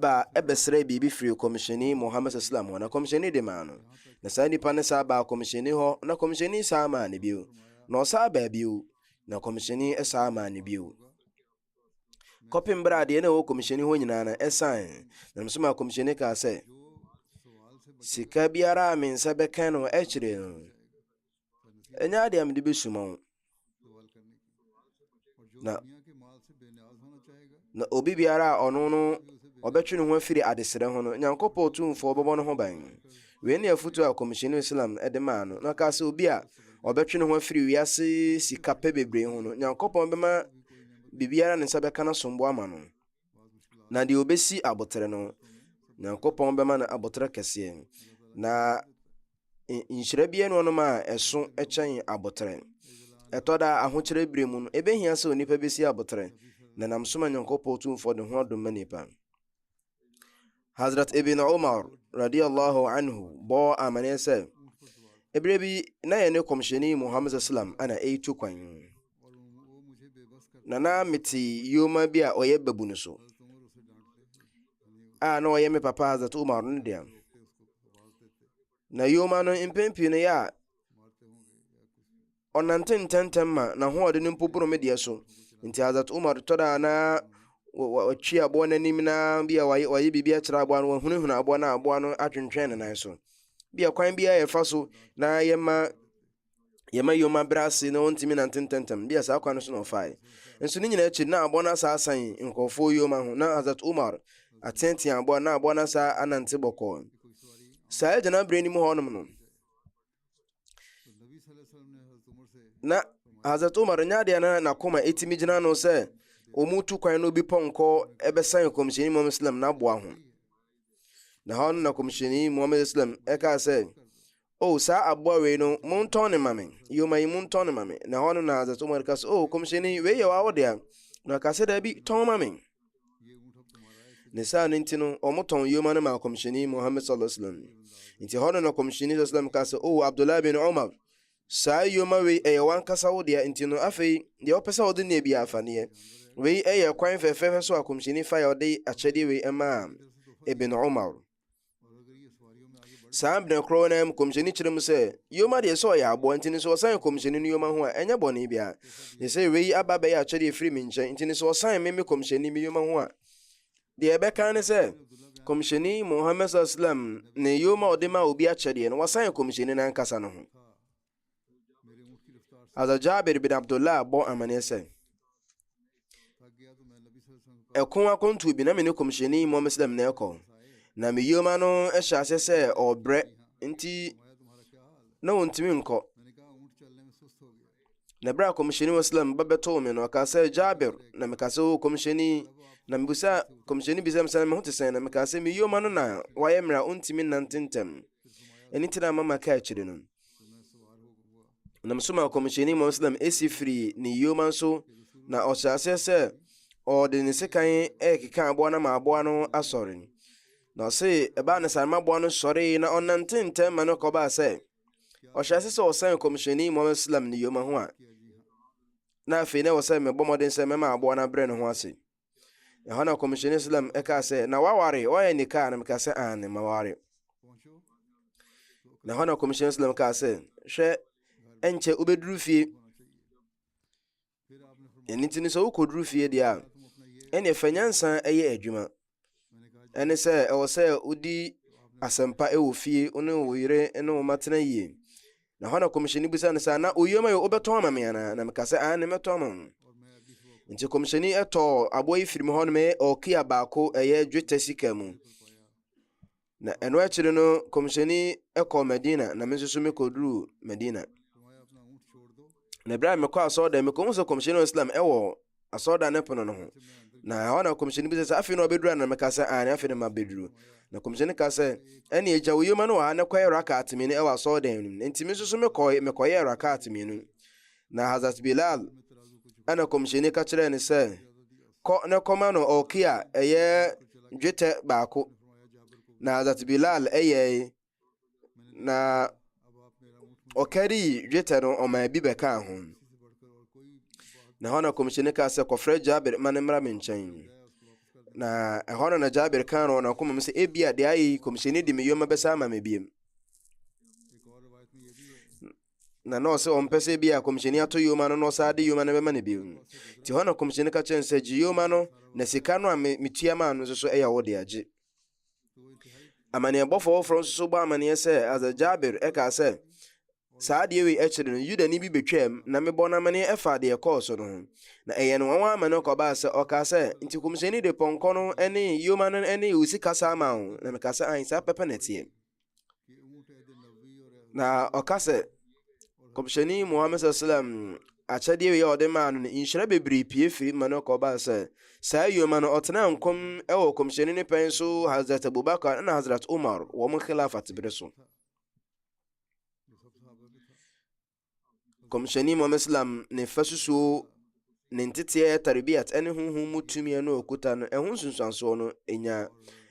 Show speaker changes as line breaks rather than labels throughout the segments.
baa bɛsrɛɛ biribi firii Kɔmhyɛni Muhammad S.A.W. hɔ, na Kɔmhyɛni de maa no. Na saa nipa no san baa Kɔmhyɛni hɔ, na Kɔmhyɛni san maa no bio, na ɔsan baa bio, na Kɔmhyɛni san maa no bio, kɔpem berɛ a deɛ na ɛwɔ Kɔmhyɛni hɔ nyinaa no saeɛ. Na nso maa Kɔmhyɛni kaa sɛ, Sika biara a me nsa bɛka no akyire no, ɛnyɛ adeɛ a mede bɛsuma wo na na obi biara a ɔno no ɔbɛtwe ne ho afiri adesrɛ ho no nyankopɔn tumfoɔ bɛbɔ no ho ban wei ne afotu a kɔmhyɛni islam de maa no na ɔkaa sɛ obi a ɔbɛtwe ne ho afiri wiase sika pɛ bebree ho no nyankopɔn bɛma biribiara ne nsa bɛka no asomboa ma no na deɛ ɔbɛsi abotere no nyankopɔn bɛma no abotere kɛseɛ na nhyira bi yɛ nneɛma a ɛso kyɛn abotrɛ. Ɛtɔ da ahokyerɛ bere mu no, ebehia sɛ onipa besi abotrɛ na nam so ma Nyankopɔn tumfoɔ de ho adom ma nipa. Hazrat Ibn Umar radiyallahu anhu bɔɔ amanneɛ sɛ, ebere bi na yɛne kɔmhyɛni Muhammad sallam ana ɛretu kwan. Na na mete yoma bi a ɔyɛ babu no so. A na ɔyɛ me papa Hazrat Umar no deɛ. Na yoma no mpɛn pii no yɛ a ɔnante ntɛntɛm ma n'ahoɔden no mpo boro me deɛ so nti azat umar tɔ da na watwi aboa no anim na bi a wayɛ wayɛ biribi akyerɛ aboa no wahunahuna aboa no a aboa no atwentwɛn ne nan so bi a kwan biara yɛfa so na yɛma yɛma yom abrɛ ase na wɔntumi nante ntɛntɛm bi a saa kwan no so na ɔfae nso ne nyinaa akyi na aboa no asa asan nkurɔfoɔ yom ho na hazat umar ateatea aboa na aboa no asa anante bɔkɔɔ saa agyana berɛ no mu hɔnom no na hazat umar nyɛ adeɛ na nakoma ɛtumi gyina no sɛ wɔn tu kwan no bi pɔnkɔ ɛbɛsan kɔmhyɛni mu islam na aboa ho na hɔ no na kɔmhyɛni mu islam ɛkaa sɛ O, saa aboa wei no, montɔn no mma me, yoma yi, montɔn no mma me. Na ɛhɔ no na Hazrat Umar ka sɛ, O, Kɔmhyɛni, wei yɛ w'awo dea. Na ɔka sɛ, Daabi, tɔn ma me. Ne saa no nti no, wɔtɔn yoma no maa Kɔmhyɛni Muhammad sallallahu alaihi wasallam. Nti ɛhɔ no na Kɔmhyɛni sallallahu alaihi wasallam ka sɛ, O, Abdullah bin Umar, saa yoma wei ɛyɛ w'ankasa wo dea, nti no afei deɛ wopɛ sɛ wode neɛ biara fa neɛ. Wei ɛyɛ kwan fɛfɛɛfɛ so a Kɔmhyɛni fa yɛ ɔde akyɛdeɛ wei ɛmaa Ibn Umar. saa berɛ korɔ no mu kɔmhyɛni kyerɛ mu sɛ yoma deɛ sɛ ɔyɛ aboa nti no sɛ ɔsan kɔmhyɛni no yoma ho a ɛnyɛ bɔne biara ne sɛ wei aba bɛyɛ akyɛdeɛ ɛfiri me nkyɛn nti no sɛ ɔsan me me kɔmhyɛni me yoma ho a deɛ ɛbɛka ne sɛ kɔmhyɛni mohammed islam ne yoma ɔde ma obi akyɛdeɛ no wasan kɔmhyɛni no ankasa no ho Hazrat Jabir bin Abdullah bɔ amanneɛ sɛ ɛko akɔntuo bi na me ne kɔmhyɛni mmɔ muslim na ɛkɔ na me yoma no hyɛ aseɛ sɛ ɔbrɛ nti na ɔntumi nkɔ na berɛ a kɔmhyɛni muslim ba bɛtoo me no ɔka sɛ Jabir na meka sɛ o kɔmhyɛni na mebusa kɔmhyɛni bisa me sɛ me ho te sɛn na meka sɛ me yoma no na wayɛ mmerɛ a ɔntumi nnante ntɛm ɛno nti na mama ka akyire no nam so ma kɔmhyɛni mu ɔsnam esi firii ne yoma nso na ɔhyɛ aseɛ sɛ ɔde ne sekan ɛrekeka aboa no ma aboa no asɔre na ɔse ɛbaa ne saa ma aboa no sɔre na ɔnante ntɛm ma no kɔbaa sɛ ɔhyɛ ase sɛ ɔsɛn kɔmhyɛni mu ɔsnam ne yoma ho a na afei na ɛwɔ sɛ mebɔ mmɔden sɛ mɛma aboa no abrɛ ne ho ase Ɛhɔ na Kɔmhyɛni Islam ɛkaa sɛ, na waware, wayɛ nikaa, na mekaa sɛ, aane, maware. Na ɛhɔ na Kɔmhyɛni Islam kaa sɛ, hwɛ, ɛnkyɛ wobɛduru fie. Ɛno nti no sɛ wokɔduru fie deɛ a, ɛneɛ fa nyansa ɛyɛ adwuma. Ɛne sɛ ɛwɔ sɛ wodi asɛmpa ɛwɔ fie, wo ne wo yere ne wo matena yie. Na hɔ na kɔmhyɛni bisa no sɛ, na oyuam ayɛ wobɛtɔn ama me anaa? Na meka sɛ, aane mɛtɔn ama mo. Nti kɔmhyɛni ɛtɔɔ aboa yi firi mu hɔ nom ɔkia baako ɛyɛ dwetɛ sika mu. Na ɛno akyiri no kɔmhyɛni ɛkɔɔ Medina na me nso so mekɔduruu Medina. Na berɛ a mekɔ asɔɔdɛ mekɔhu sɛ kɔmhyɛni Islam ɛwɔ asɔredan no pono no ho. Na ɛhɔ na kɔmhyɛni bi sɛ sɛ afei na ɔbɛduru ana meka sɛ aane afei na mabɛduru. Na kɔmhyɛni ka sɛ ɛne agya wo yoma no wɔ ha na kɔyɛ rakat mmienu ɛwɔ asɔredan no mu. Enti me nso so mekɔe mekɔyɛɛ rakat mmienu. Na Hazrat Bilal ɛna kɔmhyɛni ka kyerɛɛ no sɛ kɔ na kɔma no ɔkia ɛyɛ dwetɛ baako. Na Hazrat Bilal ɛyɛe na ɔkarii dwetɛ no ɔmaa bi bɛkaa ho na ɛhɔ na kɔmhyɛni kaa sɛ kɔfrɛ jabir ma ne mmra me nkyɛn na ɛhɔ no na jabir kaa no ɔnakoma mu sɛ ebia deɛ ayɛ yi kɔmhyɛni de me yoma bɛsa ama me biem na na ɔsɛ ɔmpɛ sɛ bi a kɔmhyɛni ato yoma no na ɔsaa de yoma no bɛma no bio nti hɔ na kɔmhyɛni ka kyɛn sɛ gye yoma no na sika no a metua maa no nso so ɛyɛ wo de agye Amanneɛbɔfo foforo nso bɔ amanneɛ sɛ Hazrat Jabir ɛkaa sɛ saa adeɛ wei akyiri no Yudani bi betwaam na mebɔ no amanneɛ ɛfa deɛ ɛkɔɔ so no ho na ɛyɛ no nwanwa ama no kɔbaa sɛ ɔkaa sɛ nti kɔmhyɛni de pɔnkɔ no ne yoma no ne wusi kasa ama wo na mekaa sɛ ae saa pɛpɛ na ɛteɛ na ɔka sɛ kɔmhyɛni muhammed sallam akyɛdeɛ wei a ɔde maa no no nhyira bebree pie firi ma no kɔbaa sɛ saa yoma no ɔtena nkɔm wɔ kɔmhyɛni ne pɛn so hazrat abubakar na hazrat umar wɔn khilafat bere so Nkɔmhyɛni Muhammad Islam ne fasusuo ne nteteɛ tarbiat ne honhom mu tumi no okuta no ɛho nsunsuansoɔ no nya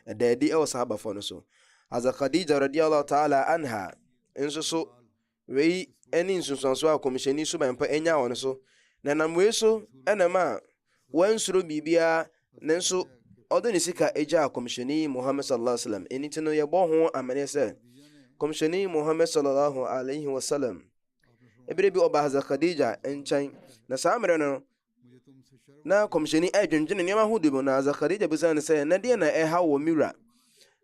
ɛda adi wɔ sahabafoɔ no so aza Khadija radiallahu ta'ala anha nso so wei ne nsunsuansoɔ a kɔmhyɛni suban pa nya wɔ no so na nam wei so ɛna ma wansuro biribiara nanso ɔde ne sika gyaa kɔmhyɛni muhammad sallallahu alaihi wasallam ɛni nti no yɛbɔ ho amene sɛ kɔmhyɛni muhammad sallallahu alaihi wasallam ɛberɛ bi ɔba haza khadija nkyɛn na saa mmerɛ no na kɔmhyɛni ɛdwendwene nneɛma ho di mu na haza khadija bisa no sɛ na deɛ na ɛha wɔ me wura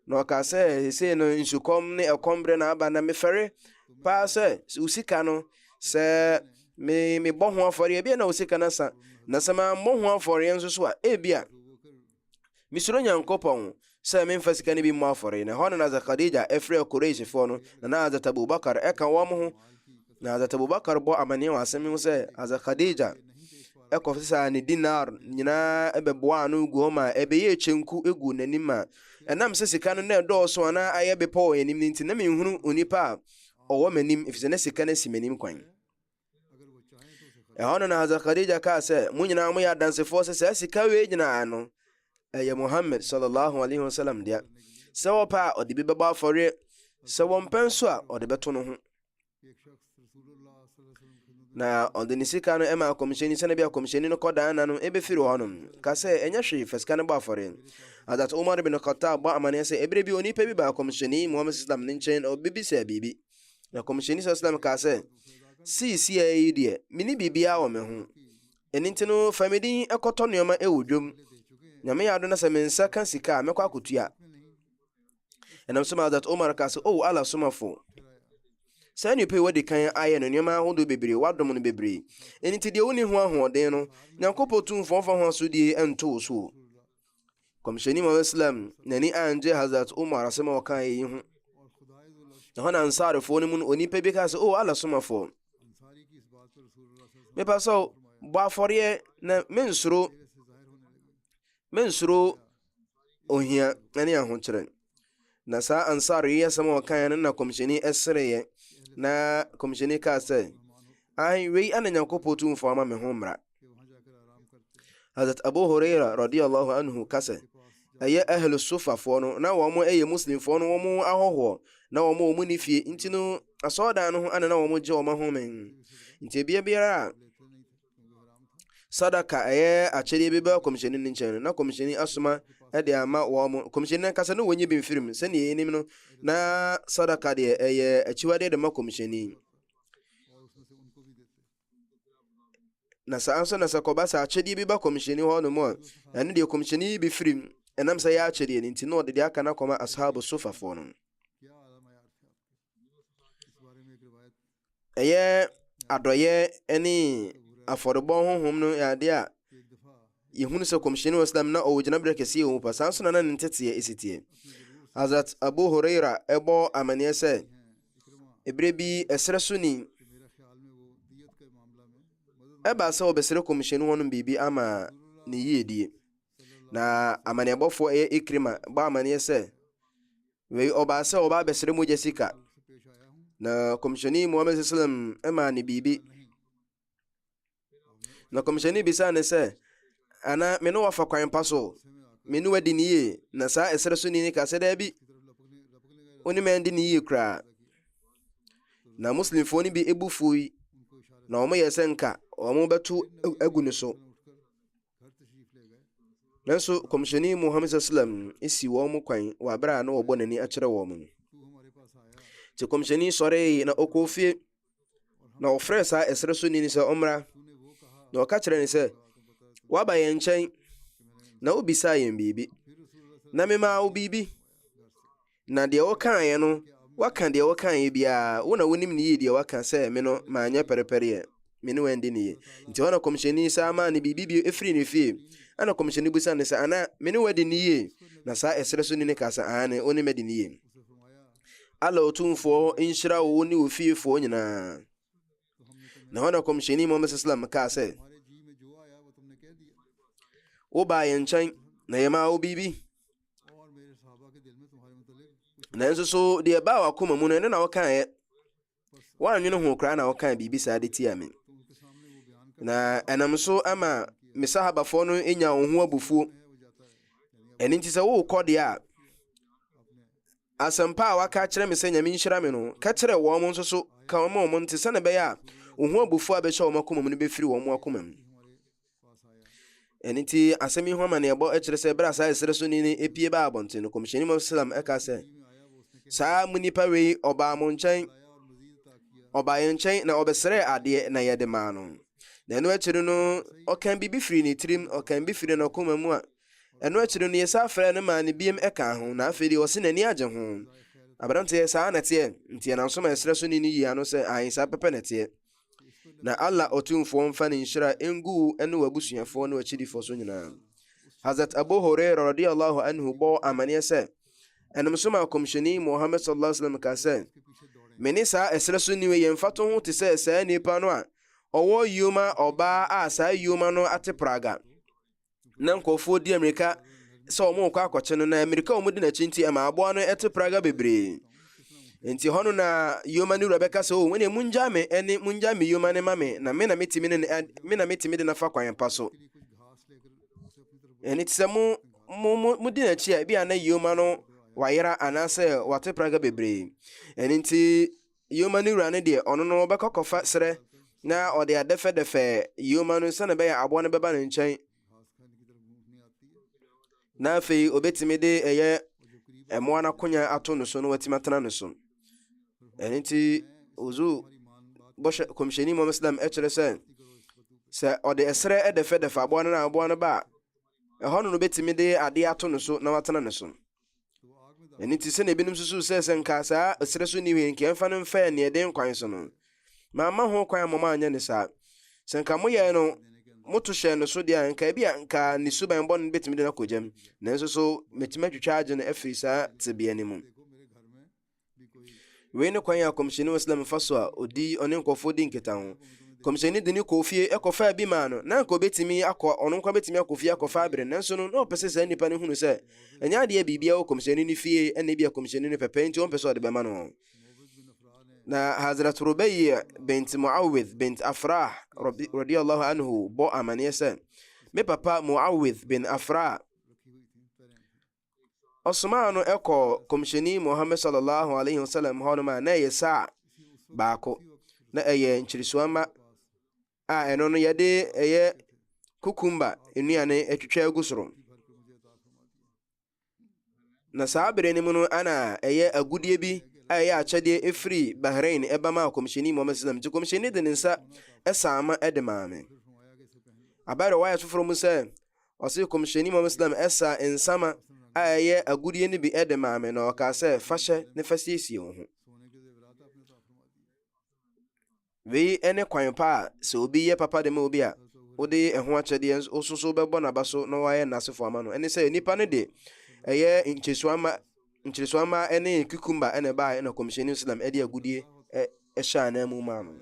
Na ɔkaa sɛ, Seesei no nsukɔm ne ɛkɔm berɛ na aba, na mefɛre paa sɛ wo sika no, sɛ me mebɔ ho afɔreɛ, ebia na wo sika no asa, na sɛ mammɔ ho afɔreɛ nso so a, ebia mesuro Nyankopɔn sɛ memfa sika no bi mmɔ afɔreɛ. Na ɛhɔ na Hazrat Khadija frɛɛ Quraishfoɔ no, na na Hazrat Abu Bakar ka wɔn ho, Na Hazrat Abubakar bɔ amanneɛ wɔ asɛm yi ho sɛ Hazrat Khadija ɛkɔfo saa ne dinar nyinaa ɛbɛboa ano gu hɔ ma ɛbɛyɛ kyenku egu n'anim ma ɛnam sɛ sika no na ɛdɔɔso anaa ayɛ bepɔ wɔ anim no nti na menhunu onipa a ɔwɔ m'anim efisɛ na sika no asi m'anim kwan ɛhɔ no na Hazrat Khadija kaa sɛ mo nyinaa moyɛ adansefoɔ sɛ saa sika wei nyinaa no ɛyɛ Muhammad sallallahu alaihi wasallam dea sɛ wɔpɛ a ɔde bi bɛbɔ afɔreɛ sɛ wɔmpɛ nso a ɔde bɛto no ho Na ɔde ne sika no ma akɔmhyɛni sɛnɛ bi akɔmhyɛni no kɔdaa na no ɛbɛfiri hɔ nom ka sɛ ɛnyɛ hwee fa sika no bɔ afɔre adat umar bin khattab bɔ amanneɛ sɛ ɛberɛ bi onipa bi ba akɔmhyɛni muhammad islam ne nkyɛn ɔbɛbisaa biribi na akɔmhyɛni sa islam kaa sɛ siisia yi deɛ mene biribiaa wɔ me ho ɛno nti no fa me din ɛkɔtɔ nneɛma ɛwɔ dwom nyame yɛ ado na sɛ me nsa ka sika a mɛkɔ akɔtua Ɛnam so ma Hazrat Omar ka sɛ, O Allah somafo, saa nnipa yi wɔde kan ayɛ no nneɛma ahodoɔ bebree, wɔadom no bebree. Ɛno nti deɛ wonni ho ahoɔden no, Nyankopɔn Tumfoɔ mfa ho asodie nto wo so. Kɔmhyɛni Muhammad Islam n'ani angye Hazrat Omar asɛm a ɔka yi ho. Ɛhɔ na Ansarifoɔ no mu no onipa bi ka sɛ, O Allah somafo, mepa sɛ bɔ afɔreɛ na mensoro mensoro ohia ne ahokyerɛ. Na saa ansar yi asɛm a ɔkaeɛ no na kɔmhyɛni sereeɛ na kɔmhyɛni kaa sɛ ai wei ana nyankopɔn tumfoɔ ama me ho mmara hazrat abu huraira radiallahu anhu ka sɛ ɛyɛ ahlu sofafoɔ no na wɔn ɛyɛ muslimfoɔ no wɔn ahɔhoɔ na wɔn wɔn ne fie nti no asɔɔdan no ho ana na wɔn gye wɔn ahome nti ebia biara a sadaka a ɛyɛ akyɛdeɛ bi bɛba kɔmhyɛni no nkyɛn no na kɔmhyɛni asoma de ama wɔn mo kɔmhyɛni no ankasa na wɔnyi bi mfiri mu sɛdeɛ yɛnim no na sadaka deɛ ɛyɛ akyiwadeɛ de ma kɔmhyɛni na saa nso na sɛ kɔba sɛ akyɛdeɛ bi ba kɔmhyɛni hɔ no mu a ɛno deɛ kɔmhyɛni yi bi firi mu ɛnam sɛ yɛ akyɛdeɛ no nti na ɔde deɛ aka no akɔma ashabu sofafoɔ no Ɛyɛ adɔyɛ ne afɔrebɔ honhom no yɛ ade a yɛhunu sɛ kɔmhyɛni wɔ slam na ɔwɔ gyinaberɛ kɛseɛ wɔ mu pa saa nso na na ne nteteɛ ɛsi teɛ hazrat abu horeira ɛbɔ amanneɛ sɛ ɛberɛ bi ɛserɛ so ni ɛbaa sɛ wɔbɛsrɛ kɔmhyɛni hɔ nom biribi ama ne yiedie na amanneɛbɔfoɔ ɛyɛ ikrima bɔ amanneɛ sɛ Wei ɔbaa sɛ ɔbaa bɛsrɛ mogya sika na kɔmhyɛni muhammed sallam maa ne biribi na kɔmhyɛni bisaa ne sɛ ana me ne wafa kwan pa so me ne wadi ne yie na saa ɛsrɛ so ni ne ka sɛ daabi wo ne mɛndi ne yie koraa na muslimfoɔ no bi ebu fui na wɔn yɛ sɛ nka wɔn bɛto agu ne so Nanso kɔmhyɛni Muhammad sallam si wɔn kwan wɔ abere a na wɔbɔ n'ani akyerɛ wɔn no. Te kɔmhyɛni sɔree na ɔkɔɔ fie na ɔfrɛ saa ɛsrɛ so nini sɛ ɔmmra na ɔka kyerɛ ne sɛ waba yɛn nkyɛn na wobisaa yɛn biribi na memaa wo biribi Na deɛ wokaeɛ no, woaka deɛ wokaeɛ biara, wo na wonim ne yie deɛ woaka sɛ me no manyɛ pɛrepɛreɛ, me ne wo andi ne yie. Nti hɔ na kɔmhyɛni saa maa no biribi bio firii ne fie. Ɛna kɔmhyɛni bisaa no sɛ, Ana me ne wo adi ne yie? Na saa ɛserɛ so ni no kaa sɛ, Aane, wo ne me adi ne yie. Allah Otumfoɔ nhyira wo ne wo fiefoɔ nyinaa. na hɔ na kɔmhyɛni muhammad sallam kaa sɛ wobaa yɛn nkyɛn na yɛmaa wo biribi nanso so deɛ ɛbaa wakoma mu no ɛno na wokaeɛ woanwene ho koraa na wokaa biribi saa de tia me na ɛnam so ama me sahabafoɔ no nya wo ho abufuo ɛno nti sɛ worekɔ deɛ a Asɛmpa a wɔaka akyerɛ me sɛ Nyame nhyira me no, ka kyerɛ wɔn nso so ka ma wɔn nte, sɛnea ɛbɛyɛ a ohu abufuo a ɛbɛhyɛ wɔn akoma mu no bɛfiri wɔn akoma mu. Ɛno nti, asɛm yi ho amanneɛbɔ kyerɛ sɛ berɛ a saa ɛserɛ so ni no pie baa abɔnten no, Kɔmhyɛni Muhammad Salam ɛka sɛ, Saa mo nipa wei ɔbaa mo nkyɛn, ɔbaa yɛn nkyɛn na ɔbɛsrɛɛ adeɛ na yɛde maa no. Na ɛno akyiri no, ɔkan biribi firi ne tirim, ɔkan bi firi n'akoma mu a Ɛno akyi no, yesan frɛɛ no maa no biom kaa ho, na afei deɛ ɔse n'ani agye ho. Aberanteɛ, saa na ɛteɛ, nti ɛnam so ma ɛserɛ so ni no yi ano sɛ, aane, saa pɛpɛ na ɛteɛ. Na Allah Otumfoɔ mfa ne nhyira ngu wo ne w'abusuafoɔ ne w'akyidifoɔ so nyinaa. Hazrat Abu Hurairah radiyallahu anhu bɔɔ amaneɛ sɛ, ɛnam so maa Kɔmhyɛni Muhammad sallallahu alaihi wasallam kaa sɛ, me ne saa ɛserɛ so ni wei yɛn mfatoho te sɛ saa nipa no a ɔwɔ yoma ɔbaa a saa yoma no ate praga. na nkurɔfoɔ di mmirika sɛ wɔrekɔ akɔkye no na mmirika a wɔdi n'akyi nti ɛma aboa no ɛte praga bebree nti hɔ no na yoma no wura bɛka sɛ o wɔne mungyaa me ɛne mungyaa me yoma ne ma me na me na metumi ne me na metumi de nafa kwan pa so ɛne te sɛ mo mo mo mo di n'akyi a ebi a na yoma no wayera anaasɛ wate praga bebree ɛne nti Yoma no wura no deɛ, ɔno no ɔbɛkɔ akɔfa serɛ na ɔde adɛfɛdɛfɛ yoma no sɛdeɛ ɛbɛyɛ aboa no bɛba ne nkyɛn na afei obetumi de ɛyɛ mmoa n'akonya ato no so na watumi atena no so ɛno nti ozu bɔhyɛ kɔmhyɛni mu islam ɛkyerɛ sɛ sɛ ɔde ɛserɛ ɛdɛfɛdɛfɛ aboa no na aboa no ba a ɛhɔ no no betumi de adeɛ ato no so na watena no so Ɛno nti, sɛnea ebinom susuw sɛ sɛ nka saa ɛserɛ so nni hwee nka ɛmfa no mfɛɛ nea ɛden kwan so no, mamma ho kwan mmom anyɛ no saa. Sɛ nka moyɛe no, moto hyɛɛ no so deɛ a, nka ebia nka ne suban bɔne no betumi de no akɔ gyam. Nanso so metumi atwitwa agye no afi saa tebea no mu? Wei ne kwan a kɔmhyɛni wɔ Islam fa so a odi ɔne nkurɔfoɔ di nkitaho. Kɔmhyɛni de no kɔɔ fie kɔfaa bi maa no, na anka ɔbɛtumi akɔ ɔno nko bɛtumi akɔ fie akɔfa abere, nanso no na ɔpɛ sɛ saa nnipa no hunu sɛ ɛnyɛ adeɛ biribiara wɔ kɔmhyɛni no fie, ɛna ebi a kɔmhyɛni no pɛpɛ nti ɔmpɛ sɛ ɔde bɛma no. Na Hazrat Rubai bint Muawidh bint Afrah radiyallahu anhu bɔ amaneɛ sɛ, me papa Muawidh bin Afrah ɔsomaa no kɔɔ kɔmhyɛni muhammad sallallahu alaihi wasallam hɔnom a na ɛyɛ saa baako na ɛyɛ nkyeresuamma a ɛno no yɛde ɛyɛ kukumba nnuane atwitwa agu soro na saa bere no mu no ana ɛyɛ agudeɛ bi a ɛyɛ akyɛdeɛ ɛfiri bahrain ɛba ma kɔmhyɛni muhammad sallam nti kɔmhyɛni de ne nsa ɛsaama ɛde maa me abɛrɛ wayɛ foforɔ mu sɛ Ɔse, Kɔmhyɛni Muhammad Sallam ɛsaa nsama a ɛyɛ agudeɛ no bi ɛde maa me na ɔkaa sɛ, fa hyɛ ne fa siesie wo ho. Wei ɛne kwan pa a sɛ obi yɛ papa de ma obi a wode ɛho akyɛdeɛ nso soso bɛbɔ n'aba so na wayɛ n'asefo ama no ɛne sɛ nipa no de ɛyɛ nkyɛsua ma nkyeresoamma ne cucumber na ɛbaeɛ na kɔmhyɛni islam de agudeɛ hyɛ ananmu maa no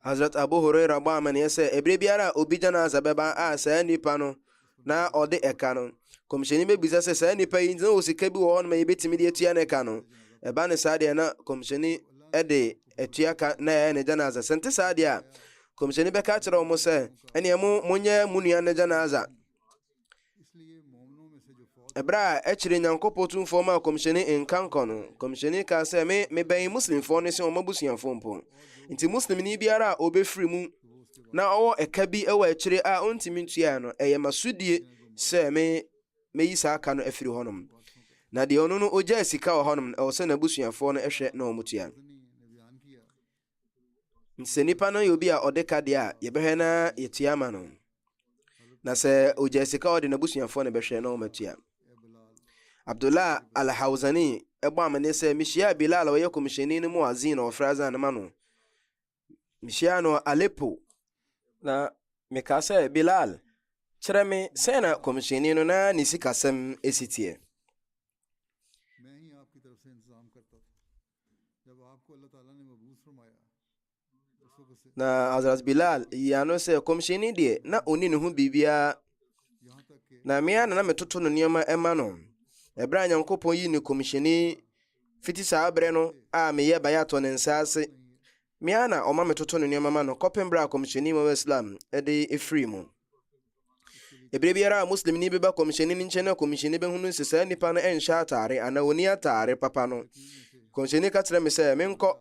hazrat abu huraira bɔ amanneɛ sɛ ɛberɛ biara a obi janaza bɛba a saa nnipa no na ɔde ɛka no kɔmhyɛni bɛbisa sɛ saa nnipa yi na wɔ sika bi wɔ hɔ no ma yɛbɛtumi de atua no ɛka no ɛba ne saa deɛ na kɔmhyɛni de atua ka na ɛyɛ ne janaza sɛ nte saa deɛ a kɔmhyɛni bɛka kyerɛ wɔn sɛ ɛneɛ mo monyɛ mo nua no janaza Ɛberɛ a akyire Nyankopɔ Tumfoɔ maa Kɔmhyɛni nkankɔ no, Kɔmhyɛni kaa sɛ, Me, mebɛn Muslimfoɔ no sen wɔn abusuafoɔ mpo. Nti Muslimni biara a ɔbɛfiri mu na ɔwɔ ɛka bi wɔ akyire a ɔntumi ntuaɛ no, ɛyɛ m'asodie sɛ me, mɛyi saa ka no afiri hɔnom. Na deɛ ɔno no ɔgyaa sika wɔ hɔnom no, ɛwɔ sɛ n'abusuafoɔ no hwɛ na wɔtua. Sɛ nipa no yɛ obi a ɔde ka deɛ a, yɛbɛhwɛ na yɛtua ama no. Na sɛ ɔgya sika ɔde n'abusuafoɔ na ɛbɛhwɛ na wɔatua. Abdullah al-Hawzani ɛbɔ amane sɛ mehyia Bilal a ɔyɛ kɔmhyɛni no mu azin na ɔfrɛ azan no ma no. Mehyia no Aleppo. Na mekaa sɛ, Bilal, kyerɛ me sɛ na kɔmhyɛni no na ne sikasɛm ɛsi teɛ. Na Hazrat Bilal yi ano sɛ kɔmhyɛni deɛ na ɔni ne ho biribiara na mmea na na metoto no nneɛma ɛma no ɛberɛ a Nyankopɔn yi ne kɔmhyɛni fiti saa berɛ no a meyɛ bayatɔ ne nsa ase Me ara na ɔma metoto ne nneɛma ma no kɔpem berɛ a Kɔmhyɛni Muhammad Islam de firii mu. Eberɛ biara a Muslimni beba Kɔmhyɛni no nkyɛn na Kɔmhyɛni bɛhunu sɛ saa nipa no nhyɛ ataare anaa ɔnni ataare papa no, Kɔmhyɛni ka kyerɛ me sɛ menkɔ